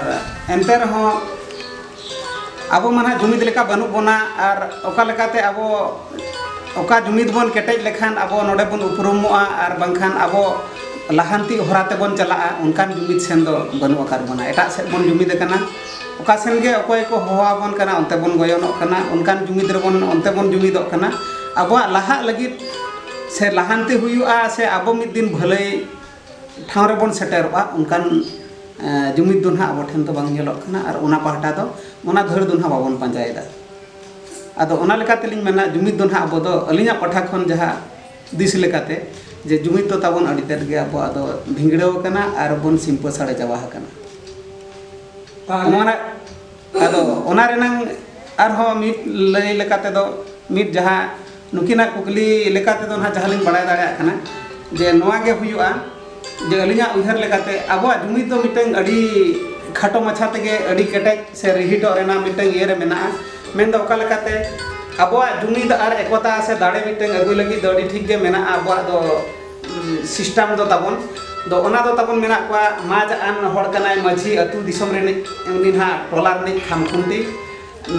ᱮᱱᱛᱮ ᱨᱮᱦᱚᱸ ᱟᱵᱚ ᱢᱟ ᱱᱟᱦᱟᱜ ᱡᱩᱢᱤᱫ ᱞᱮᱠᱟ ᱵᱟᱹᱱᱩᱜ ᱵᱚᱱᱟ ᱟᱨ ᱚᱠᱟ ᱞᱮᱠᱟᱛᱮ ᱟᱵᱚ ᱚᱠᱟ ᱡᱩᱢᱤᱫ ᱵᱚᱱ ᱠᱮᱴᱮᱡ ᱞᱮᱠᱷᱟᱱ ᱟᱵᱚ ᱱᱚᱰᱮ ᱵᱚᱱ ᱩᱯᱨᱩᱢᱚᱜᱼᱟ ᱟᱨ ᱵᱟᱝᱠᱷᱟᱱ ᱟᱵᱚ ᱞᱟᱦᱟᱱᱛᱤ ᱦᱚᱨᱟ ᱛᱮᱵᱚᱱ ᱪᱟᱞᱟᱜᱼᱟ ᱚᱱᱠᱟᱱ ᱡᱩᱢᱤᱫ ᱥᱮᱱ ᱫᱚ ᱵᱟᱹᱱᱩᱜ ᱟᱠᱟᱫ ᱵᱚᱱᱟ ᱮᱴᱟᱜ ᱥᱮᱫ ᱵᱚᱱ ᱡᱩᱢᱤᱫ ᱟᱠᱟᱱᱟ ᱚᱠᱟ ᱥᱮᱱ ᱜᱮ ᱚᱠᱚᱭ ᱠᱚ ᱦᱚᱦᱚ ᱟᱵᱚᱱ ᱠᱟᱱᱟ ᱚᱱᱛᱮ ᱵᱚᱱ ᱜᱚᱭᱚᱱᱚᱜ ᱠᱟᱱᱟ ᱚᱱᱠᱟᱱ ᱡᱩᱢᱤᱫ ᱨᱮᱵᱚᱱ ᱚᱱᱛᱮ ᱵᱚᱱ ᱡᱩᱢᱤᱫᱚᱜ ᱠᱟᱱᱟ ᱟᱵᱚᱣᱟᱜ ᱞᱟᱦᱟᱜ ᱞᱟᱹᱜᱤᱫ ᱥᱮ ᱞᱟᱦᱟᱱᱛᱤ ᱦᱩᱭᱩᱜᱼᱟ ᱥᱮ ᱟᱵᱚ ᱢᱤᱫ ᱫᱤᱱ ᱵᱷᱟᱹᱞᱟᱹᱭ ᱴᱷᱟᱶ ᱨᱮᱵᱚᱱ ᱥᱮᱴᱮᱨᱚᱜᱼᱟ ᱚᱱᱠᱟᱱ ᱡᱩᱢᱤᱫ ᱫᱚ ᱱᱟᱦᱟᱜ ᱟᱵᱚ ᱴᱷᱮᱱ ᱫᱚ ᱵᱟᱝ ᱧᱮᱞᱚᱜ ᱠᱟᱱᱟ ᱟᱨ ᱚᱱᱟ ᱯᱟᱦᱴᱟ ᱫᱚ ᱚᱱᱟ ᱫᱷᱟᱹᱲ ᱫᱚ ᱱᱟᱦᱟᱜ ᱵᱟᱵᱚᱱ ᱯᱟᱸᱡᱟᱭᱮᱫᱟ ᱟᱫᱚ ᱚᱱᱟ ᱞᱮᱠᱟ ᱛᱮᱞᱤᱧ ᱢᱮᱱᱟ ᱡᱩᱢᱤᱫ ᱫᱚ ᱱᱟᱦᱟᱜ ᱟᱵᱚ ᱫᱚ ᱟᱹᱞᱤᱧᱟᱜ ᱯᱟᱦᱴᱟ ᱠᱷᱚᱱ ᱡᱟᱦᱟᱸ ᱫᱤᱥ ᱞᱮᱠᱟᱛᱮ ᱡᱮ ᱡᱩᱢᱤᱫ ᱫᱚ ᱛᱟᱵᱚᱱ ᱟᱹᱰᱤ ᱛᱮᱫ ᱜᱮ ᱟᱵᱚᱣᱟᱜ ᱫᱚ ᱵᱷᱤᱸᱫᱽᱲᱟᱹᱣ ᱟᱠᱟᱱᱟ ᱟᱨ ᱵᱚᱱ ᱥᱤᱢᱯᱟᱹ ᱥᱟᱲᱮ ᱪᱟᱵᱟ ᱟᱠᱟᱱᱟ ᱱᱚᱣᱟ ᱨᱮᱱᱟᱜ ᱟᱫᱚ ᱚᱱᱟ ᱨᱮᱱᱟᱝ ᱟᱨᱦᱚᱸ ᱢᱤᱫ ᱞᱟᱹᱭ ᱞᱮᱠᱟ ᱛᱮᱫᱚ ᱢᱤᱫ ᱡᱟᱦᱟᱸ ᱱᱩᱠᱤᱱᱟᱜ ᱠᱩᱠᱞᱤ ᱞᱮᱠᱟ ᱛᱮᱫᱚ ᱱᱟᱦᱟᱜ ᱡᱟᱦᱟᱸ ᱞᱤᱧ ᱵᱟᱲᱟᱭ ᱫᱟᱲᱮᱭᱟᱜ ᱠᱟᱱᱟ ᱡᱮ ᱱᱚᱣᱟ ᱜᱮ ᱦᱩᱭᱩᱜᱼᱟ ᱡᱮ ᱟᱹᱞᱤᱧᱟᱜ ᱩᱭᱦᱟᱹᱨ ᱞᱮᱠᱟᱛᱮ ᱟᱵᱚᱣᱟᱜ ᱡᱩᱢᱤᱫ ᱫᱚ ᱢᱤᱫᱴᱟᱝ ᱟᱹᱰᱤ ᱠᱷᱟᱴᱚ ᱢᱟᱪᱷᱟ ᱛᱮᱜᱮ ᱟᱹᱰᱤ ᱠᱮᱴᱮᱡ ᱥᱮ ᱨᱤᱦᱤᱴᱚᱜ ᱨᱮᱱᱟᱜ ᱢᱤᱫᱴᱟᱝ ᱤᱭᱟᱹ ᱨᱮ ᱢᱮᱱᱟᱜᱼᱟ ᱢᱮᱱ ᱫᱚ ᱚᱠᱟ ᱞᱮᱠᱟᱛᱮ ᱟᱵᱚᱣᱟᱜ ᱡᱩᱢᱤᱫ ᱟᱨ ᱮᱠᱚᱛᱟ ᱥᱮ ᱫᱟᱲᱮ ᱢᱤᱫᱴᱟᱝ ᱟᱹᱜᱩᱭ ᱞᱟᱹᱜᱤᱫ ᱫᱚ ᱟᱹᱰᱤ ᱴᱷᱤᱠ ᱜᱮ ᱢᱮᱱᱟᱜᱼᱟ ᱟᱵᱚᱣᱟᱜ ᱫᱚ ᱥᱤᱥᱴᱮᱢ ᱫᱚ ᱛᱟᱵᱚᱱ ᱫᱚ ᱚᱱᱟ ᱫᱚ ᱛᱟᱵᱚᱱ ᱢᱮᱱᱟᱜ ᱠᱚᱣᱟ ᱢᱟᱡᱽ ᱟᱱ ᱦᱚᱲ ᱠᱟᱱᱟᱭ ᱢᱟᱹᱡᱷᱤ ᱟᱹᱛᱩ ᱫᱤᱥᱚᱢ ᱨᱤᱱᱤᱡ ᱩᱱᱤ ᱱᱟᱦᱟᱜ ᱴᱚᱞᱟ ᱨᱤᱱᱤᱡ ᱠᱷᱟᱢᱠᱷᱩᱱᱴᱤ